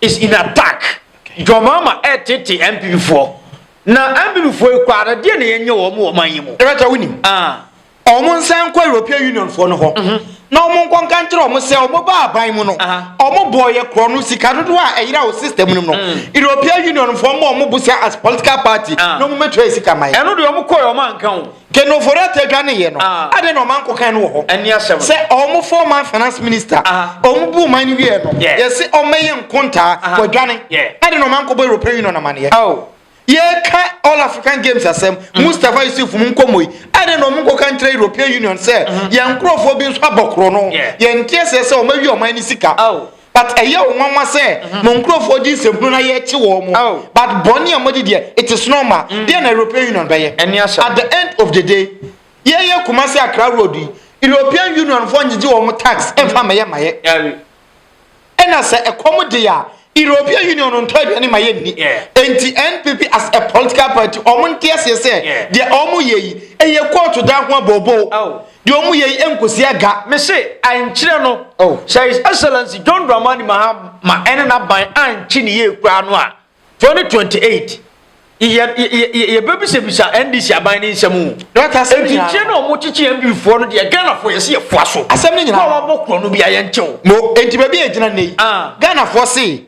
is in attack John Mahama ɛretete NPP foɔ na NPP foɔ yi koraa deɛ na yɛnyɛ wɔn wɔ ɔman yi mu. Ɛbɛtɔ wo nim. Ah. Wɔn nsan nkɔ European Union foɔ no hɔ mm -hmm. na wɔn nkɔ nka nkyerɛ wɔn sɛ wɔn ba aban mu no uh -huh. wɔn bɔ yɛ korɔ no sika dodoɔ a ɛyera wɔ system no mu no mm. European Union foɔ ma wɔn bo sɛ as political party uh -huh. na wɔn bɛtua sika ma yɛ. Ɛno deɛ wɔn kɔ yɛ wɔn anka o. Kenofoɔ ataa dwaneeɛ no, adɛn na ɔmanko kan no wɔ hɔ? Sɛ wɔn former finance minister, wɔn bu man no wieɛ no, yɛse wɔmmɛyɛ nkontaa, wɔadwane. Adɛn na ɔmanko bɔ European Union amaneɛ? Yɛka All African Games asɛm, Mustapha Yusuf mu nkɔmmɔ yi, adɛn na wɔn nkɔka nkyerɛ European Union sɛ yɛn nkorɔfoɔ bi nso abɔ korɔno, yɛnte aseɛ sɛ wɔawie ɔman no sika? But ɛyɛ wo nwanwa sɛ mm-hmm. mo nkurɔfoɔ gye nsɛmhunu na yɛkye wɔn mo. Oh. But bɔne a moadi deɛ it is normal. Mm. Deɛ na European Union bɛyɛ. Ɛni asɛm. At the end of the day, yɛyɛ Kumasi Accra road yi, European Union foɔ ngyegye wɔn tax ɛnfa mm. mɛyɛ mayɛ. Ɛna sɛ ɛkɔm de a, European Union ntɔ aduane ma yɛ nni. Nti NPP as a political party, wɔn nteɛ seɛ sɛ deɛ wɔn yɛ yi, ɛyɛ kóòtù dan ho abɔbɔ. Oh. Deɛ ɔmo yɛ yi ɛnkosi aga. Me se ankyerɛ no oh. sɛ His Excellency John Dramani Mahama ɛne n'aban ankye ne yie koraa no a 2028 yɛbɛbisabisa ndc aban ne nsɛm o ɛnti nkyerɛ na ɔmo kyekye mdfoɔ no deɛ ghanafoɔ yɛse yɛfoa so asɛm no nyinaa na wɔabɔ korɔ no bia yɛnkyɛw mo ɛnti baabi a ɛgyina nnɛ yi ah. ghanafoɔ se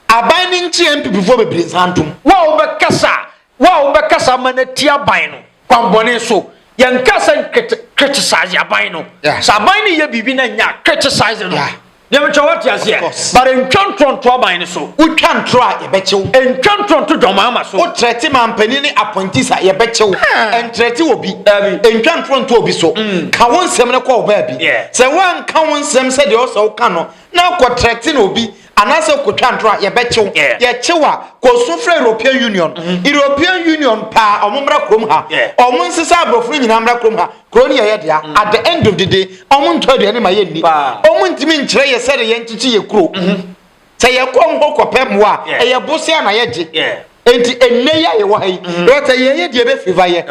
aban ne nkye mppfoɔ bebree nsa ntom wo a wobɛkasa Wo a wobɛkasa ama no atia aban no kwammɔne so, yɛnkaa sɛ nkete, criticize aban no. Yeah. Sɛ aban no yɛ biribi na ɛnyɛ a, criticize no. Yeah. Deɛ mekyerɛ woate aseɛ, but ntwa ntorɔ nto aban no so. Wotwa ntorɔ a, yɛbɛkye wo. Ntwa ntorɔ nto dwamama so. Wotrɛte mampanin ne appointees a, yɛbɛkye wo. Ah. Ntrɛte obi. Dabi. Ntwa ntorɔ nto obi so. Mm. Ka wo nsɛm no kɔ wo baabi. Yeah. Sɛ woanka wo nsɛm sɛdeɛ ɔsɛ woka no, na akɔtrɛte no obi, Anaasɛ wokɔtwa ntorɔ a yɛbɛkye wo. Yɛkye wo a, kɔ su frɛ European Union. European Union pɛ a, wɔmmra kurom ha. Wɔnsesa aborɔfo no nyinaa mmra kurom ha. Kuro no yɛ yɛn dea. At the end of the day, wɔntɔ aduane mma yɛnni. Wɔntumi nkyerɛ yɛn sɛdeɛ yɛnkyekye yɛn kuro. Sɛ yɛkɔ wɔn hɔ kɔpɛ mmoa a, ɛyɛ bosea na yɛgye. Enti ɛnnɛ yi a yɛwɔ ha yi, mm-hmm. wata yɛyɛ deɛ ɛbɛfeva yɛ.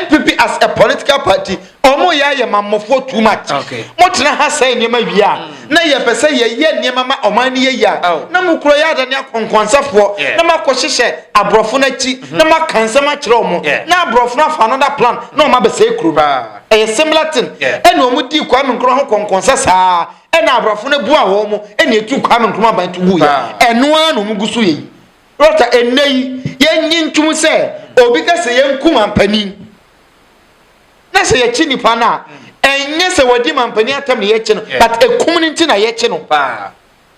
NPP as a political party, ɔmo yɛ ayɛ ma mmɔfoɔ too much. Mo tena ha sɛe nneɛma wie a, mm. na yɛpɛ sɛ yɛyɛ nneɛma ma ɔman no yɛyie a, oh. na mo kura yɛ adane akɔnkɔnsafoɔ, na mo akɔhyehyɛ aborɔfo no akyi, mm-hmm. na mo aka nsɛm akyerɛ ɔmo, na aborɔfo no afa another plan, na ɔmo abɛsɛe kuro no. Ɛyɛ similar thing. Ɛna ɔmo di Kwame Nkrumah ho kɔnkɔnsa saa, ɛna aborɔfo no bua wɔn mo, ɛna etu Kwame Nkrumah ban to gu yɛ. Ɛnoa na ɔmo gu so yɛ yi. Brɔta, ɛnnɛ yi, yɛnnye ntom sɛ obi ka sɛ yɛnku mampanin. Na sɛ yɛkye nipa no a, ɛnyɛ sɛ wɔadi mampanin atam na yɛkye no, but ɛkum no nti na yɛkye no.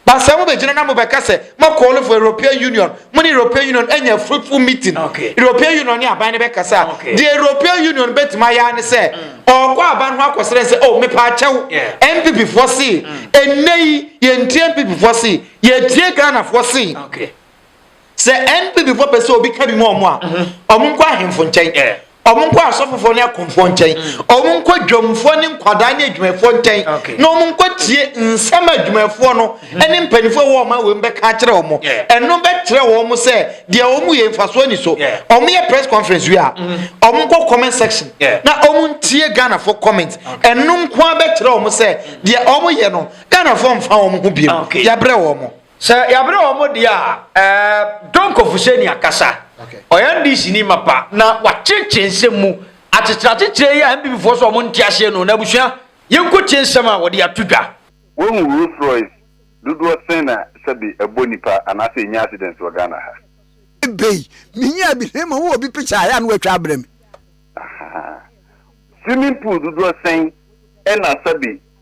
But sɛ mobɛgyina na mobɛka sɛ mɔkɔɔlo for European Union, mo ne European Union anya fruitful meeting, European Union ne aban no bɛkasa a, deɛ European Union bɛtumi ayɛ ne sɛ ɔkɔ aban ho akɔsrɛ sɛ, oh, mepaakyɛw, MPP foɔ se, ɛnnɛ yi, yɛntie MPP foɔ se, Yɛtie Ghanafoɔ se sɛ NPP foɔ pɛ sɛ obi ka bi ma ɔmo a, ɔmo nkɔ ahemfo nkyɛn, ɔmo nkɔ asɔfofoɔ ne akomfoɔ nkyɛn, ɔmo nkɔ dwamfoɔ ne nkwadaa ne adwumayɛfoɔ nkyɛn na ɔmo nkɔ tie nsɛm a adwumayɛfoɔ no ne mpaninfoɔ a ɛwɔ ɔman wei mu bɛka akyerɛ ɔmo. Ɛno bɛkyerɛ ɔmo sɛ deɛ ɔmo yɛ mfasoɔ nni so. Ɔmo yɛ press conference wie a, ɔmo nkɔ comment section na ɔmo ntie Ghanafoɔ comment. Ɛno nko ara bɛkyerɛ ɔmo sɛ deɛ ɔmo yɛ no Ghanafoɔ mfa wɔn ho biom. Okay. Yɛabrɛ wɔn. Sɛ yɛabrɛ wɔn deɛ a, ɛɛ Don Kofuse ni akasa. Okay. Ɔyɛ NDC ni mapa na wakyekyere nsɛm mu. Akyekyere akyekyere yi a NPP foɔ sɛ wɔn nte aseɛ no, na abusua yɛnkɔ tie nsɛm a wɔde ato dwa. Woahu Rolls Royce dodoɔ sɛn na sɛbe ɛbɔ nipa anaasɛ ɛnya accident wɔ Ghana ha? Ebei, menyaa bi na mmom wowɔ bi picture a, ɛyɛ a na woatwa abrɛ me. Ahaa. Swimming pool dodoɔ sɛn na sɛbe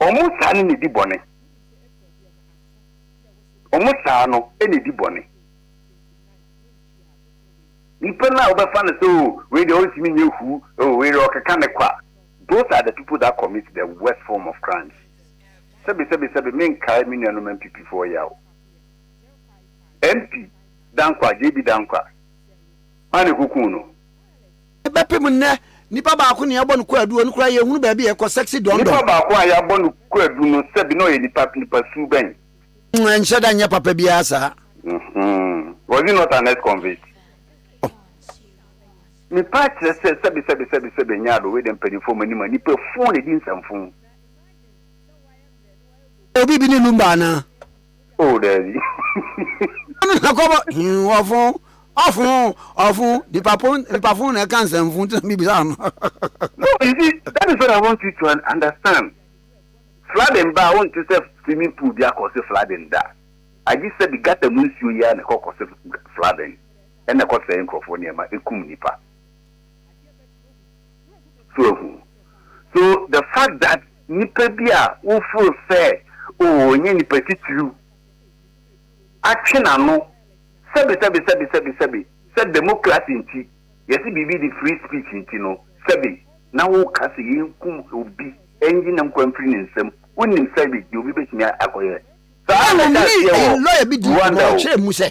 Wɔn saa no na edi bɔne. Wɔn saa no na edi bɔne. Nipa no a wobɛfa no sɛ o oh, wei deɛ ɔntumi nyɛ hu, o oh, wei deɛ ɔkeka ne kwa. Those are the people that commit the worst form of crimes. Sɛbi sɛbi sɛbi menkae me nuanom MPP foɔ yɛ o. MP Dankwa, JB Dankwa, maa ne kukuu no. Bɛpem nnɛ, nipa baako nea yɛabɔ no kwaadu, ɔno koraa yɛnhunu baabi a ɛkɔ, sexy dɔndɔn. Nipa baako a yɛabɔ no kwaadu no, sɛbi na ɔyɛ nipa, nipa su bɛn? Mm, ɛnhyɛ da nyɛ papa biara saa. Mm-hmm. Was he not an ex-convict? Oh. Nipa akyerɛ sɛ, sɛbi, sɛbi, sɛbi, sɛbi, ɛnyɛ ado, wei de mpanyinfoɔ ɔmo anim a, nipa fuu na edi nsɛmfuu. Obi bi ne lumba anaa? O daabi. Ɔno na kɔbɔ hin ɔfo ɔfo ɔfo nipa po nipa fo na ɛka nsɛm fo ntina bi bisa no. No, you see, that is what I want you to understand. Flooding ba a wonte sɛ swimming pool bi akɔse flooding da. Agye sɛ de gutter mu nsuo yi ara na ɛkɔ kɔse flooding ɛna ɛkɔ sɛe nkurɔfoɔ nneɛma ɛkum nipa. So ehu. So the fact that Nnipa bi a wofuro sɛ wɔnyɛ nnipa titiriw atwe n'ano sɛbesɛbesɛbesɛbesɛbe sɛ demokrase nti, yɛse biribi de free speech nti no, sɛbe na woka sɛ yenkum obi, enyi ne nkwa mfiri ne nsam, wonnim sɛbe deɛ obi betumi akɔyɛ. Saa na ɛda aseɛ wɔ Rwanda o.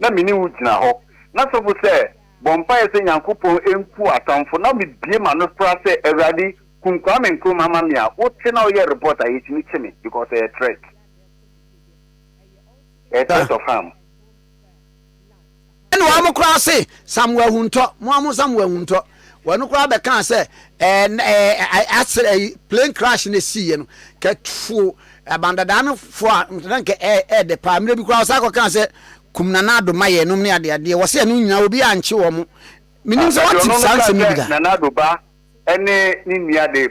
na me ne wo gyina hɔ, na sɔfo sɛ, Bɔ mpaeɛ sɛ Nyankopɔn nku w'atamfo, na me bue m'ano fra sɛ, Awurade, kum Kwame Nkrumah ma me a, wo te na wo yɛ report a, yɛtumi kye me, because ɛyɛ threat, ɛyɛ threat of harm. Ɛna wɔn koraa se, Samoa Ahuntɔ, mo ara monsa mo ahuntɔ. Wɔn koraa bɛkaa sɛ plane crash na ɛsiiɛ no kɛtfo abandadaa no fo a na nka ɛɛdɛ paa mmerɛ bi koraa wɔsan kɔkaa sɛ kum Nana Addo ma yɛnom ne adeadeɛ wɔ sɛ ɛno nyinaa obi ankye wɔn menim sɛ wɔte saa nsɛm no bi da. Nana Addo ba ne ne nua de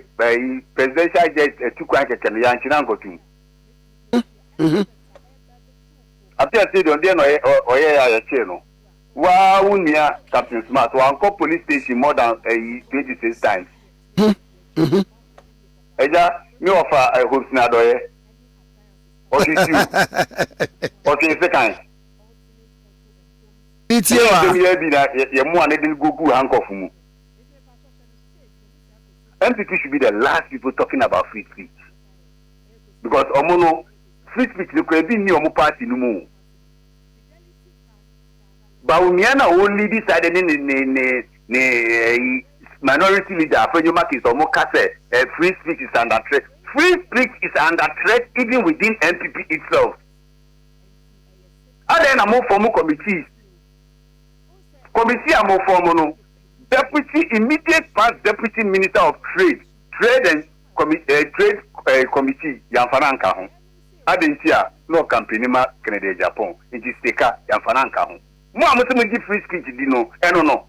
presidential jet atu kwan kɛkɛ no yɛankye no ankɔto mu. Afei afei deɛ ɔdeɛ na ɔyɛ a yɛkyee no. Waa wo nua captain smart wankɔ police station more than ɛyi twenty six times. Ɛgya me ɔfa eh, hopes na adɔyɛ ɔtwe siw ɔtwe nsekan. Ɛyɛ nsɛm yɛ bi na yɛ mmoa ne de gogu hankɔfo mu. NPP should be the last people talking about free speech because ɔmo no free speech no kura ebi nni ɔmo party no mu. Bawumia na ɔwɔ leading side ne ne ne ne ne ɛyi minority leader Afenyo Martins ɔmo ka sɛ eh, free speech is under threat. Free speech is under threat even within NPP itself. Adɛn na mo form committees? Committee a mo form no, deputy immediate past deputy minister of trade, trade and commi eh, trade eh, committee yɛamfa no anka ho. Adɛn nti a na ɔkampeni ma Kennedy Agyapong nti Sika yɛmfa no anka ho. Mo a mose mogye free speech di no ɛno no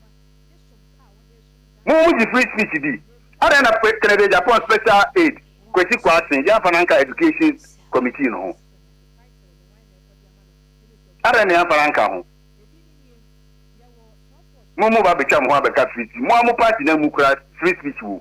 mo mogye free speech di adɛn na Kennedy Agyapong special aid Kwesi Kwarteng yɛamfa no anka education committee no ho adɛn na yɛamfa no anka ho mo mo ba betwa mo ho abɛka free speech mo a mo party no ammu koraa free speech wom.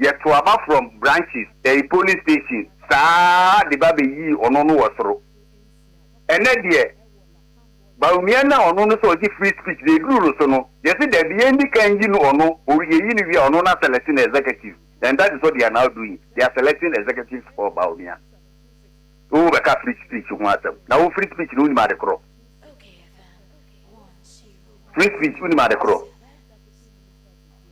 yɛ to aba from branches ɛɛ police station saa de ba bɛ yii ɔno no wɔ soro ɛnɛ deɛ Bawumia na ɔno no sɛ ɔgye free speech deɛ eduru no so no yɛ se dabi yɛn di kan yi no ɔno o yɛ yi no wie a ɔno na select no executive and that is what they are now doing they are selecting executives for Bawumia wo bɛ ka free speech ho asɛm na wo free speech no wo nim ade korɔ free speech wo nim ade korɔ.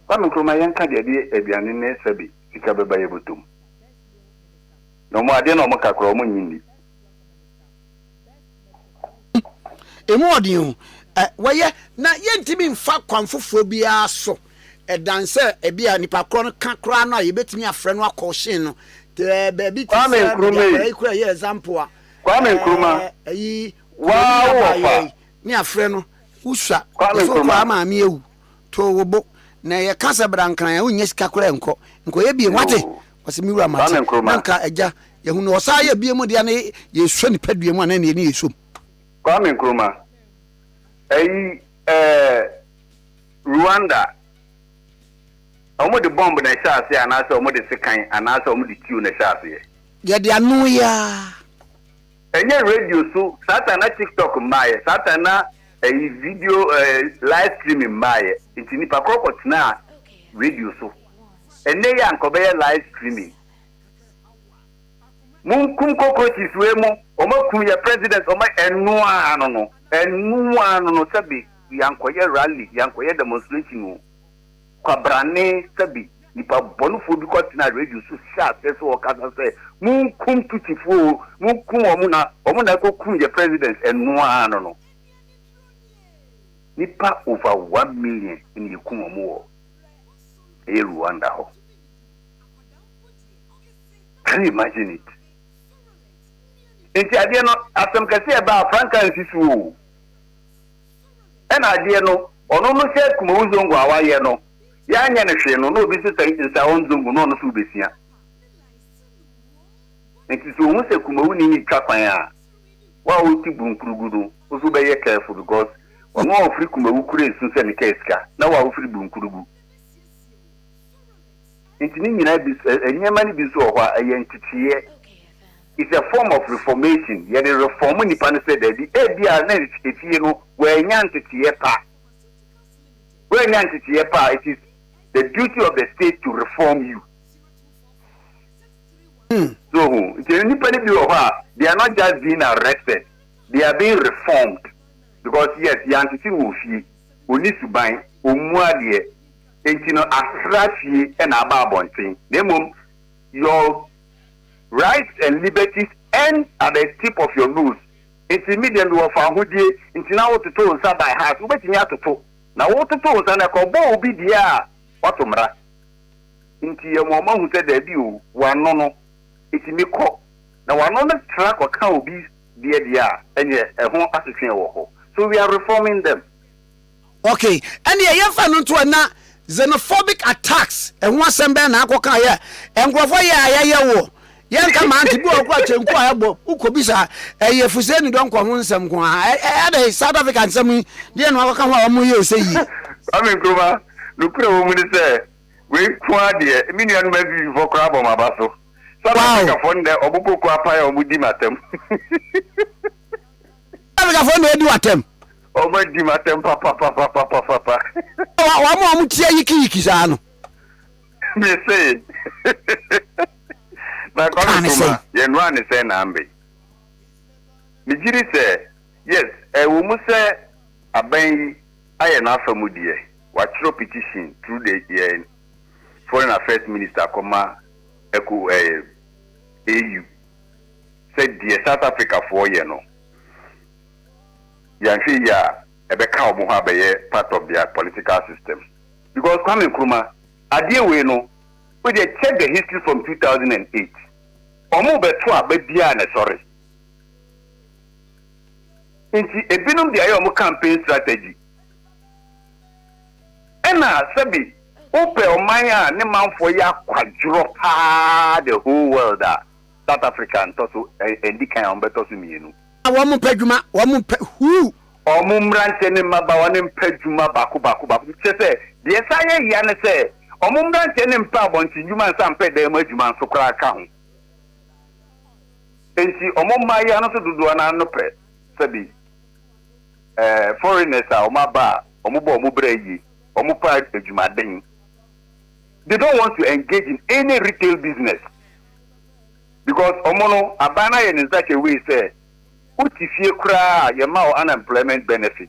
Kwame Nkrumah yɛnka deɛ ɛde aduane ne sɛbe sika bɛba yɛ bɔtɔ mu na ɔmo adeɛ na ɔmo ka koraa ɔmo nnye nni. Emu wɔ den o. Ɛ, wɔyɛ, na yɛntumi mfa kwan foforɔ biara so dan sɛ ebia nipa korɔ no ka koraa no a yɛbɛtumi afrɛ no akɔɔhyen no te baabi te Kwame sɛ baabi Nkrumah akwadaa yi. yi koraa yɛ example a, Kwame ɛɛ, Nkrumah, ayi, Kuroni waa wo wɔ fa. Abaayewa yi, ne afrɛ no, wosua, Kwame yɛsɛ wokɔ Nkrumah. a maame awu. too wo bo na yɛka sɛ bra nkran a wonnya sika koraa nkɔ nkɔyɛ biem wate wɔsɛ me wura mate na nka agya yɛhu no ɔsaa yɛ biem deɛ na yɛsua nipadua mu anaa neɛ ne yɛsom Kwame Nkrumah ayi ɛɛ Rwanda wɔn de bɔmb na ɛhyɛ aseɛ anaasɛ wɔn de sekan anaasɛ wɔn de tiw na ɛhyɛ aseɛ. Yɛde ano yi ara. Ɛnyɛ radio so saa time na TikTok mmaeɛ, saa time na ɛyi video eh, live streaming mmaeɛ, nti nipa korɔ kɔ tenaa radio so. Ɛnɛ yi anka ɔbɛyɛ live streaming. Monkum cockroaches wei mo, wɔn akum yɛ president, wɔn ɛnoaa no no, ɛnoaa no no sɛbe yankɔyɛ rally, yankɔyɛ demonstration o. Kwabrane sɛ bi nipa bɔnefoɔ bi kɔ tenaa radio so hyɛɛ aseɛ sɛ wɔkasa sɛ monkum Tutsifoɔ oo, monkum wɔn na wɔn na ɛkɔ kum yɛ president, ɛno ara no no nipa over one million na yɛkum wɔn wɔ ɛyɛ Rwanda hɔ, can you imagine it? Nti adeɛ no asɛm kɛseɛ ɛbaa frankaa nsi so oo. Ɛna adeɛ no ɔno no sɛ Kumawu Zongo a wayɛ no yɛanyɛ no hwee no na obi nso sɛ Nsaon Zongo na ɔno nso rebɛsua. Nti sɛ ohu sɛ Kumawu ne no retwa kwan a, wo a wote Bunkpurugu no wo nso wobɛyɛ careful because ɔno a ɔfiri Kumawu kura esu sɛ ne kaa sika na wo a wofiri Bunkpurugu. Nti ne nyinaa bi nso, nneɛma no bi nso wɔ hɔ a ɛyɛ nteteeɛ. is a form of reformation, yɛde reform nnipa no sɛ daabi ebia na efie no wɔannya nteteeɛ pa, wɔannya nteteeɛ pa a, it is the duty of the state to reform you. Hmm. So ho, nti nnipa no bi wɔ hɔ a, they are not just being arrested, they are being reformed because yes, yɛantete no wɔ fie, ɔni suban, ɔmmu adeɛ, nti no asra fie na aba abɔnten, na mmom your Rights and liberties end at the tip of your nose. Enti me deɛ mewɔ fawohodie nti na wototo wo nsa by heart. Wobɛtumi atoto na wototo wo nsa na ɛkɔbɔ obi deɛ a, woato mmara. Enti ɛma wɔn ahu sɛ daabi o, w'ano no ɛtumi kɔ. Na w'ano no tra kɔka obi deɛ deɛ a, ɛneɛ ɛho asotweɛ wɔ hɔ. So we are reforming them. Ok, ɛneɛ yɛmfa no nto hɔ na xenophobic attacks ɛho asɛm bɛn na akɔ ka yɛ nkurɔfoɔ yɛ a yɛyɛ wo yɛnka ma nti bi wɔ kora kyenku a ɛbɔ wokɔ bisa ɛyɛ fuseni dɔnkɔ ho nsɛm nko a ɛdɛ South Africa nsɛm yi deɛ no akɔ ka ho a wɔn yɛ ɔsɛ yie. Kwame Nkrumah, nokorɛ wɔ mu ne sɛ wei nko ara deɛ me nuanom npp foɔ koraa abɔ mo aba so. South Africa foɔ nnɛ wɔn koko apan a wɔn di mo atɛm. Afrikafoɔ na ɔdi w'atɛm. Wɔn adi m'atɛm papapapapapa. Wɔn a wɔn tia yikiyiki saa no. Me se. Na Kwame Nkrumah yɛ nnora ne sɛn na ambe. Me gyiri sɛ yes ɛwɔ mu sɛ aban yi ayɛ n'afa mu deɛ wakyerɛw petition through the yɛn foreign affairs minister akɔma ɛko ɛɛ AU. sɛ deɛ South Africafoɔ yɛ no, yɛanhwɛ yie a ɛbɛka wɔn ho abɛyɛ part of their political system. Because Kwame Nkrumah, adeɛ wei no, wo deɛ check the history from two thousand and eight, wɔn rebɛto aba biara na ɛsɔre. Nti ebinom deɛ ayɛ wɔn campaign strategy. Ɛna sɛbi wopɛ ɔman a ne manfoɔ yɛ akwadworɔ paa the whole world a, South Africa ntɔ so ɛndi kan a wɔn bɛtɔ so mmienu. Na wɔn mpɛ adwuma, wɔn mpɛ huu. Wɔn mmeranteɛ ne mmabaawa no mpɛ adwuma baako baako baako bi. Kyerɛ sɛ deɛ ɛsan yɛ yea ne sɛ wɔn mmeranteɛ no mpɛ abɔnten dwuma nsa mpɛ dan mu adwuma nso koraa ka ho. Enti wɔn mmaayewa no nso dodoɔ no ara no pɛ sɛbi. eh, foreigners a wɔn aba a wɔn bɔ wɔn bra yie, wɔn pɛ adwumaden. They don't want to engage in any retail business because wɔn no aban no ayɛ ne such a way sɛ wote fie koraa a yɛma wo unemployment benefit.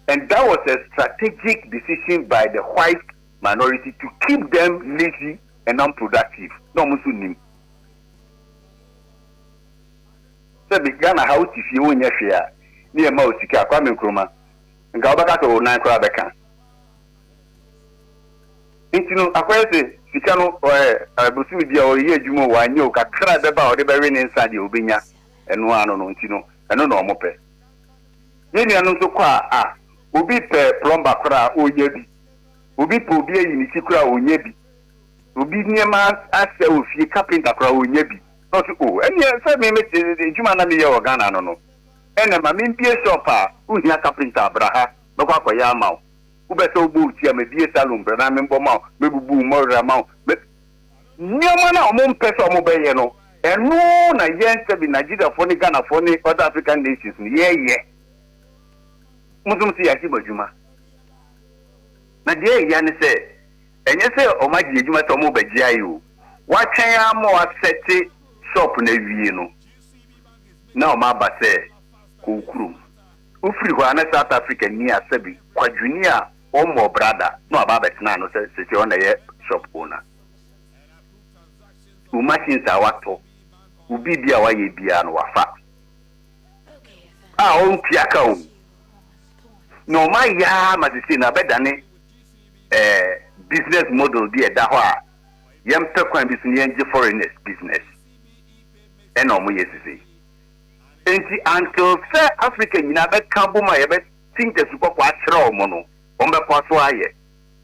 And that was a strategic decision by the white minority to keep them lazy and unproductive. No, wɔn nso nim. Sɛ bi Ghana ha wote fie wonyɛ hwee a ne yɛma wo sika a, Kwame Nkrumah, nka wobɛka sɛ wo nan koraa bɛka. Nti no akɔyɛ sɛ sika no ɔɛ bosome bi a ɔyɛ adwuma o wanyɛ o kakra a ɛbɛba a ɔde bɛwe ne nsa deɛ ɔbɛnya ɛno ano no nti no ɛno na ɔmo pɛ. Yɛn nuanom nso kɔ a a obi pɛ plumber koraa a ɔnya bi, obi pɛ obi ayi ne ti koraa a ɔnya bi, obi nneɛma asɛe wɔ fie carpenter koraa ɔnya bi. Na ɔse oh ɛneɛ sɛ me me adwuma na meyɛ wɔ Ghana no no ɛneɛ ma menbie shop a wohia carpenter a bra ha mɛkɔ akɔyɛ ama wo wopɛ sɛ wobɔ wo ti a mebie salon bra na menbɔ ma wo mɛbubu wo mmɔwera ma wo mɛ nneɛma no a wɔn mpɛ sɛ wɔn bɛyɛ no ɛno na yɛn sɛbi Nigeriafoɔ ne Ghanafoɔ ne other African nations no yɛyɛ mo nso mo se yɛagye mo adwuma na deɛ ɛya ne sɛ Ɛnyɛ sɛ wɔagye adwuma sɛ wɔrebɛgyae o. Wɔatwɛn ara ma wɔasɛte shop no awie no na wɔaba sɛ kɔ wo kurom. Wofiri hɔ a na South Africa ni Asabi Kwadwoni a ɔmmɔɔ bra da na waba abɛtena ano sɛ seesei ɔno na ɛyɛ shop owner. Wo machines a woatɔ, wo biribi a woayɛ biara no wafa. A ɔntua ka o. Na wɔayɛ ara ma seesei no abɛdane. Ɛyɛ business model bi a ɛda hɔ a yɛmpɛ kwan bi so na yɛngye foreigners business ɛna ɔmo yɛ sisi. Enti until sɛ Africa nyinaa bɛka abom a yɛbɛ tinta su kɔkɔɔ akyerɛ ɔmo no ɔmo bɛkɔ so ayɛ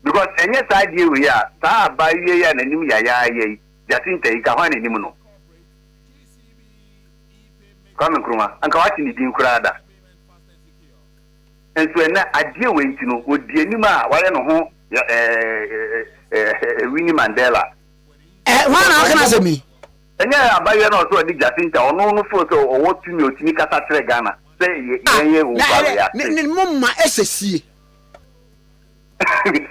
because ɛnyɛ saa adeɛ wei a saa abaayewa yi a n'anim yayaa yɛ yi Jacinta yi nka hwan na ɛnim no? Kwame Nkrumah anka wate ne din koraa da. Nso ɛnnɛ, adeɛ wei nti no, ɔdi anim a wayɛ ne ho ɛɛɛɛɛɛɛ Winnie Mandela. Ɛɛ, hwan na ɔka n'asɛm yi? Ɛnyɛ abayewa no a ɔsɛ ɔde Jacinta, ɔno no feel sɛ ɔwɔ tumi a ɔtumi kasa kyerɛ Ghana sɛ yɛ, Ah, yɛn yɛ na Owukwaro, ɛdɛ, ne, yɛate. ne, mo mma ɛsɛ sie.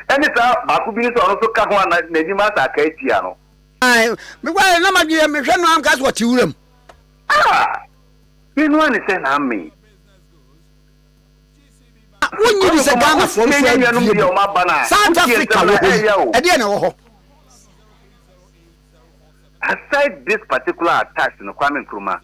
Ɛne saa baako bi no sɛ ɔno nso ka ho a na, n'anim asɛ aka atia no. Ae, me guare na m'adwene yɛ, mehwɛ no a, meka sɛ ɔte wuram. Ah! Me no ara ne sɛ na amee. wonye di sɛ ghana fɔ nso adie bi south africa wɔ hɔ yi ɛdeɛ na ɛwɔ hɔ. aside this particular attacks no kwame nkrumah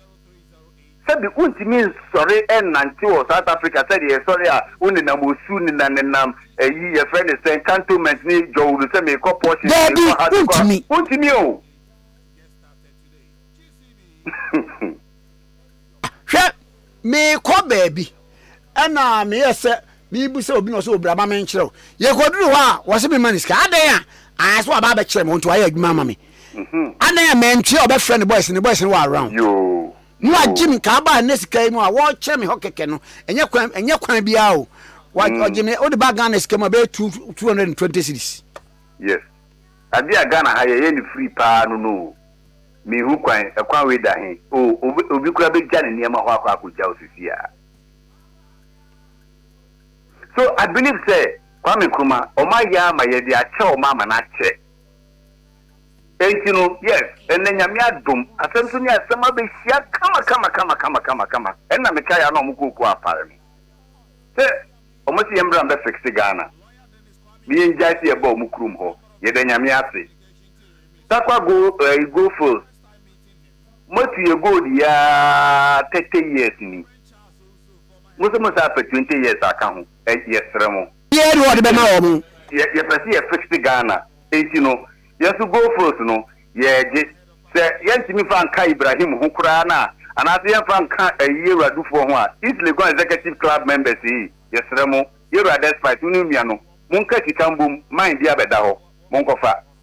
sɛbi wontumi nsɔre ɛnante wɔ south africa sɛde yɛsɔre a wonenam osu nenam nenam ɛyi yɛfrɛ ne sɛn cantonment ne jɔwulu sɛ mekɔ porsche daabi wontumi wontumi o Hwɛ, meekɔ baabi. Ɛna meyɛɛ sɛ merebisa obi na ɔsɛ obra ma menkyerɛ wo. Yɛkɔduru hɔ a, wɔse mema no sika. Adɛn a ayɛ sɛ waba abɛkyerɛ me, ɔnti wayɛ adwuma ama me. Adɛn a mantua ɔbɛfrɛ ne boys, ne boys no wɔ around. Ne wagye me nka aba ɛnɛ sika yi mu a wɔrekyerɛ me hɔ kɛkɛ no, ɛnyɛ kwan ɛnyɛ kwan biara o. Ɔgye me, wode ba Ghana sika mu a ɛbɛyɛ two two hundred and twenty cedis. Yes. Adeɛ a Ghana ha yɛyɛ no free paa no no o. Minhu kwan, ɛkwan wei da he? Oh, obi, obi koraa begya ne nneɛma hɔ akɔ akogya wo sisi a. So, I believe sɛ, Kwame Nkrumah, wɔayɛ ama yɛde akyɛ wɔn ama no akyɛ. Enti no, yes, ɛnnɛ Nyame adom, asɛm so ne asɛm abehyia kama kama kama kama kama kama. Ɛnna mekae a na wɔn kɔɔ kuo apare me sɛ, wɔse yɛmmra mbɛfixe Ghana, ne yɛngyae sɛ yɛba wɔn kurom hɔ, yɛda Nyame ase. Takwa go eh i go feel motu yɛ gold yi aa thirty years ni mo se mo san pɛ twenty years aka ho ɛ yɛ srɛ mo. Obiara ni hɔ a ɔde bɛma wɔn. Yɛ yɛ pɛ se yɛ fix Ghana enti no yɛ nso go feels no yɛ gye sɛ yɛ ntumi nfa nka Ibrahim ho koraa no a anaase yɛ nfa nka ɛyi Yɛwuradufoɔ ho a East Legon Executive Club members ei yɛ srɛ mo Yɛwura Despite wo ne wo nua no mo nka sika mbom mine bi abɛda hɔ mo nkɔfa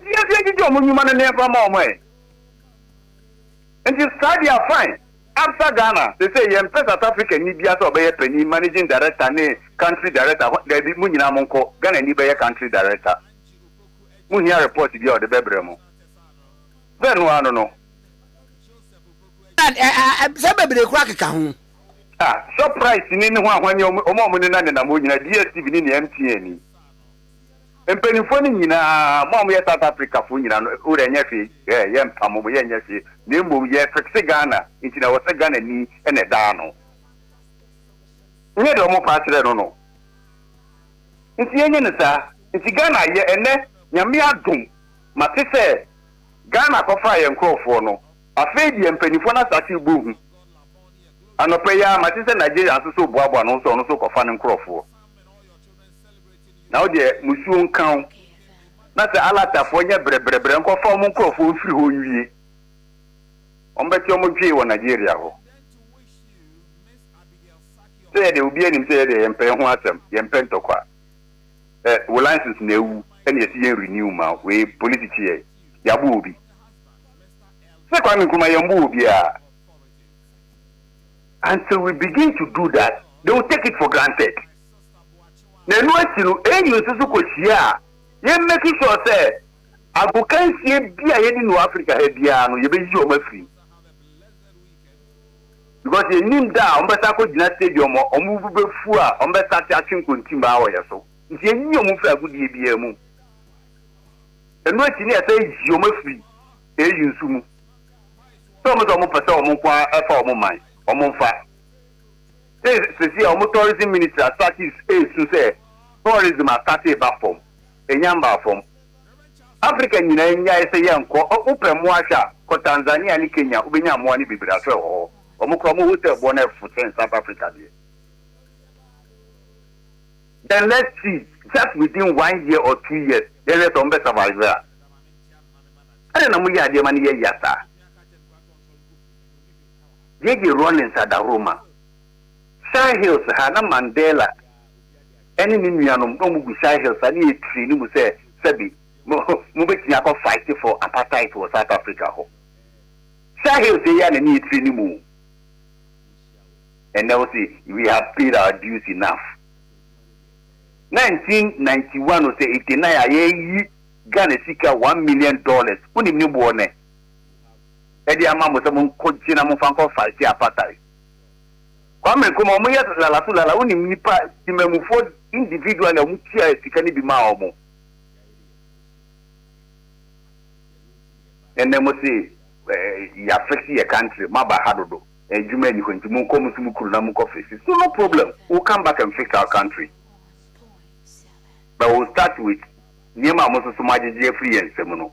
Yɛ deɛ gyegye wɔn nnwuma no neɛfa ma wɔn ɛ nti saa deɛ fine Absa Ghana sesei yɛ mpɛ South Africa ni biara sɛ ɔbɛyɛ panin managing director ne country director ho daabi mo nyinaa mo nkɔ Ghana ni bɛyɛ country director mo hia report biara ɔde bɛbrɛ mo bɛ no ano no. Sɛ bebree koraa keka ho. Ah Shoprite ni ne ho ahwanye wɔn a wɔne no anenam hɔ nyinaa DSTV ni ne MTN ni. Mpaninfoɔ no nyinaa, mo a moyɛ South Africafoɔ nyinaa no, wo deɛ nyɛ hwee, eh, yɛ mpamo mo, yɛ nyɛ hwee, na mmom yɛ fixe Ghana, nti na ɛwɔ sɛ Ghanani na ɛda ano. Nyɛ deɛ wɔn fa kyerɛ no no, nti yɛ nyɛ no saa, nti Ghana ayɛ, ɛnnɛ Nyame adom, mate sɛ Ghana akɔfaa yɛn nkorɔfoɔ no, afei deɛ mpaninfoɔ no asate rebɔ hu, anɔpa yi ara mate sɛ Nigeria nso so reboaboa ne ho sɛ ɔno nso rekɔfa ne nkorɔfoɔ. na wo deɛ musuo nka wo, na sɛ Alatafoɔ nyɛ brɛbrɛbrɛ nkɔfa wɔn nkorɔfoɔ mfiri hɔ nwie, wɔbɛte wɔn dwee wɔ Nigeria hɔ. Sɛ yɛdeɛ obiara nim sɛ yɛdeɛ yɛmpɛ yɛho asɛm, yɛmpɛ ntɔkwa, ɛ wo license na awu ɛna yɛsi yɛn renew ma wo, wei polisi kye yɛn, yɛabo obi, sɛ Kwame Nkrumah yɛmbo obiara, until we begin to do that, they will take it for granted. Na ɛno akyi no, AU nso so kɔhyia a yɛ make sure sɛ agokansie bi a yɛnim no wɔ Africa ha biara no yɛbɛyi wɔn afiri mu because yɛnim da a wɔbɛsa akɔgyina stadium a wɔn bo bɛfu a wɔbɛsate atwe nkontimbaa wɔ yɛ so nti yɛyi wɔn firi agodie biara mu ɛno akyi ne yɛsɛ yi wɔn afiri AU nso mu sɛ wɔn sɛ wɔn pɛ sɛ wɔn nko ara ɛfa wɔn man wɔn mfa Dɛ sesei a ɔmo tourism ministry asate esu sɛ tourism asate reba fam, ennya mmbaa fam. Africa nyina nnyae sɛ yɛnnkɔ, wo pɛ mboa hwɛ a kɔ Tanzania ne Kenya wobenya mboa no beberee aso wɔ hɔ, ɔmo koraa ɔmo hotel boɔ no ɛfo kyɛn South Africa deɛ. Then let's see just within one year or two years yɛnhwɛ sɛ ɔmo bɛ survive a. Adɛn na moyɛ adeɛ ma no yɛ ya saa? Gigi Rawlings adahoro ma Shire Hills ha na Mandela ne ne nuanom na wɔgu Shire Hills ha ne Eritrea no mu sɛ sɛbi mobɛtumi akɔ fight for apartheid wɔ South Africa hɔ. Shire Hills yɛ yɛ na ne Eritrea no mu o. Ɛnnɛ wo se we have paid our dues enough. 1991 o sɛ 89 a yɛyi Ghana sika one million dollars wonim ne boɔ nnɛ? de ama mo sɛ monkɔgye na momfa nkɔ Faretia Apatae. Kwame Nkrumah, wɔyɛ lala so lala, wonim nnipa, temammufoɔ individually a wɔtuaa sika no bi maa wɔn. Ɛnnɛ mo se yɛafɛsi yɛ country, moaba ha dodo, adwuma nni hɔ nti monkɔ mo nso mo kunu na monkɔ fɛsi so, no problem, we will come back and fix our country but we will start with nneɛma a mo nso so moagyegye afiri yɛn nsam no.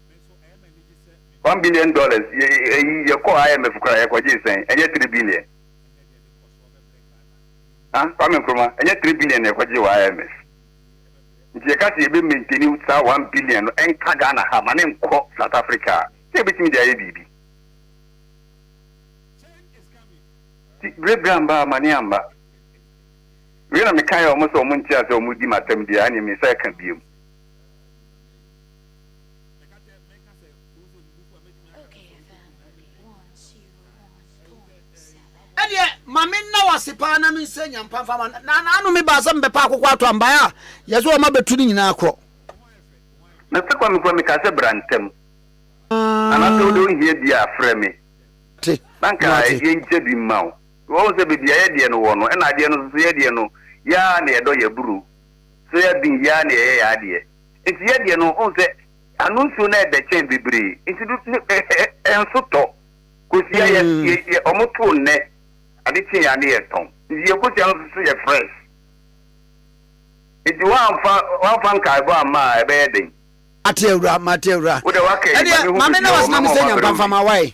One billion dollars yɛ ɛyi yɛ kɔɔ IMF koraa yɛ kɔ gyee sɛn ɛnyɛ three billion ah Kwame Nkrumah ɛnyɛ three billion na yɛ kɔ gyee wɔ IMF nti yɛ ka sɛ yɛ bɛ maintaini saa one billion no ɛnka Ghana ha ma ne nkɔ South Africa a sɛ yɛ bɛtumi de ayɛ biribi nti bere bere amba ama ne amba wei na mekaeɛ wɔn sɛ wɔn nte aseɛ wɔn di m'asɛm deɛ a ɛneɛ mensa ɛka biom. ɛdeɛ ma me nna wase paa na mensɛ nyampa mfa ma na naano me baa sɛ mebɛpa akokɔ ato ambaeɛ a yɛ sɛ ɔma bɛtu no nyinaa korɔ na sɛ kwame kwame ka sɛ bra ntɛm anaasɛ wode wohia bi a frɛ me te na nka na te ɛdeɛ nkyɛ bi mma wo wɔhu sɛ baabi a yɛdeɛ no wɔ no ɛna adeɛ no nso so yɛdeɛ no yɛa na yɛdɔ yɛburu so yɛden yɛa na yɛyɛ yɛadeɛ Nti yɛ deɛ no, wohu sɛ ano nsuo no ɛdɛ kyɛn bebree, nti do ne ɛ ɛ ɛ nso tɔ. Kosua yɛ yɛ yɛ ɔmo too nnɛ, ade kye a ne yɛ tɔn. Nti yɛ kosua no nso so yɛ fresh. Nti woanfa woanfa nkaebɔ amma a ɛbɛyɛ den. Mate awura mate awura. Wo deɛ waka yi, Ɛdeɛ ma ne ho maame na bɛbiara, wasena me ɔmɛma sɛ ɔmɛbrɛ wo nyankwanfa bi. ma wae.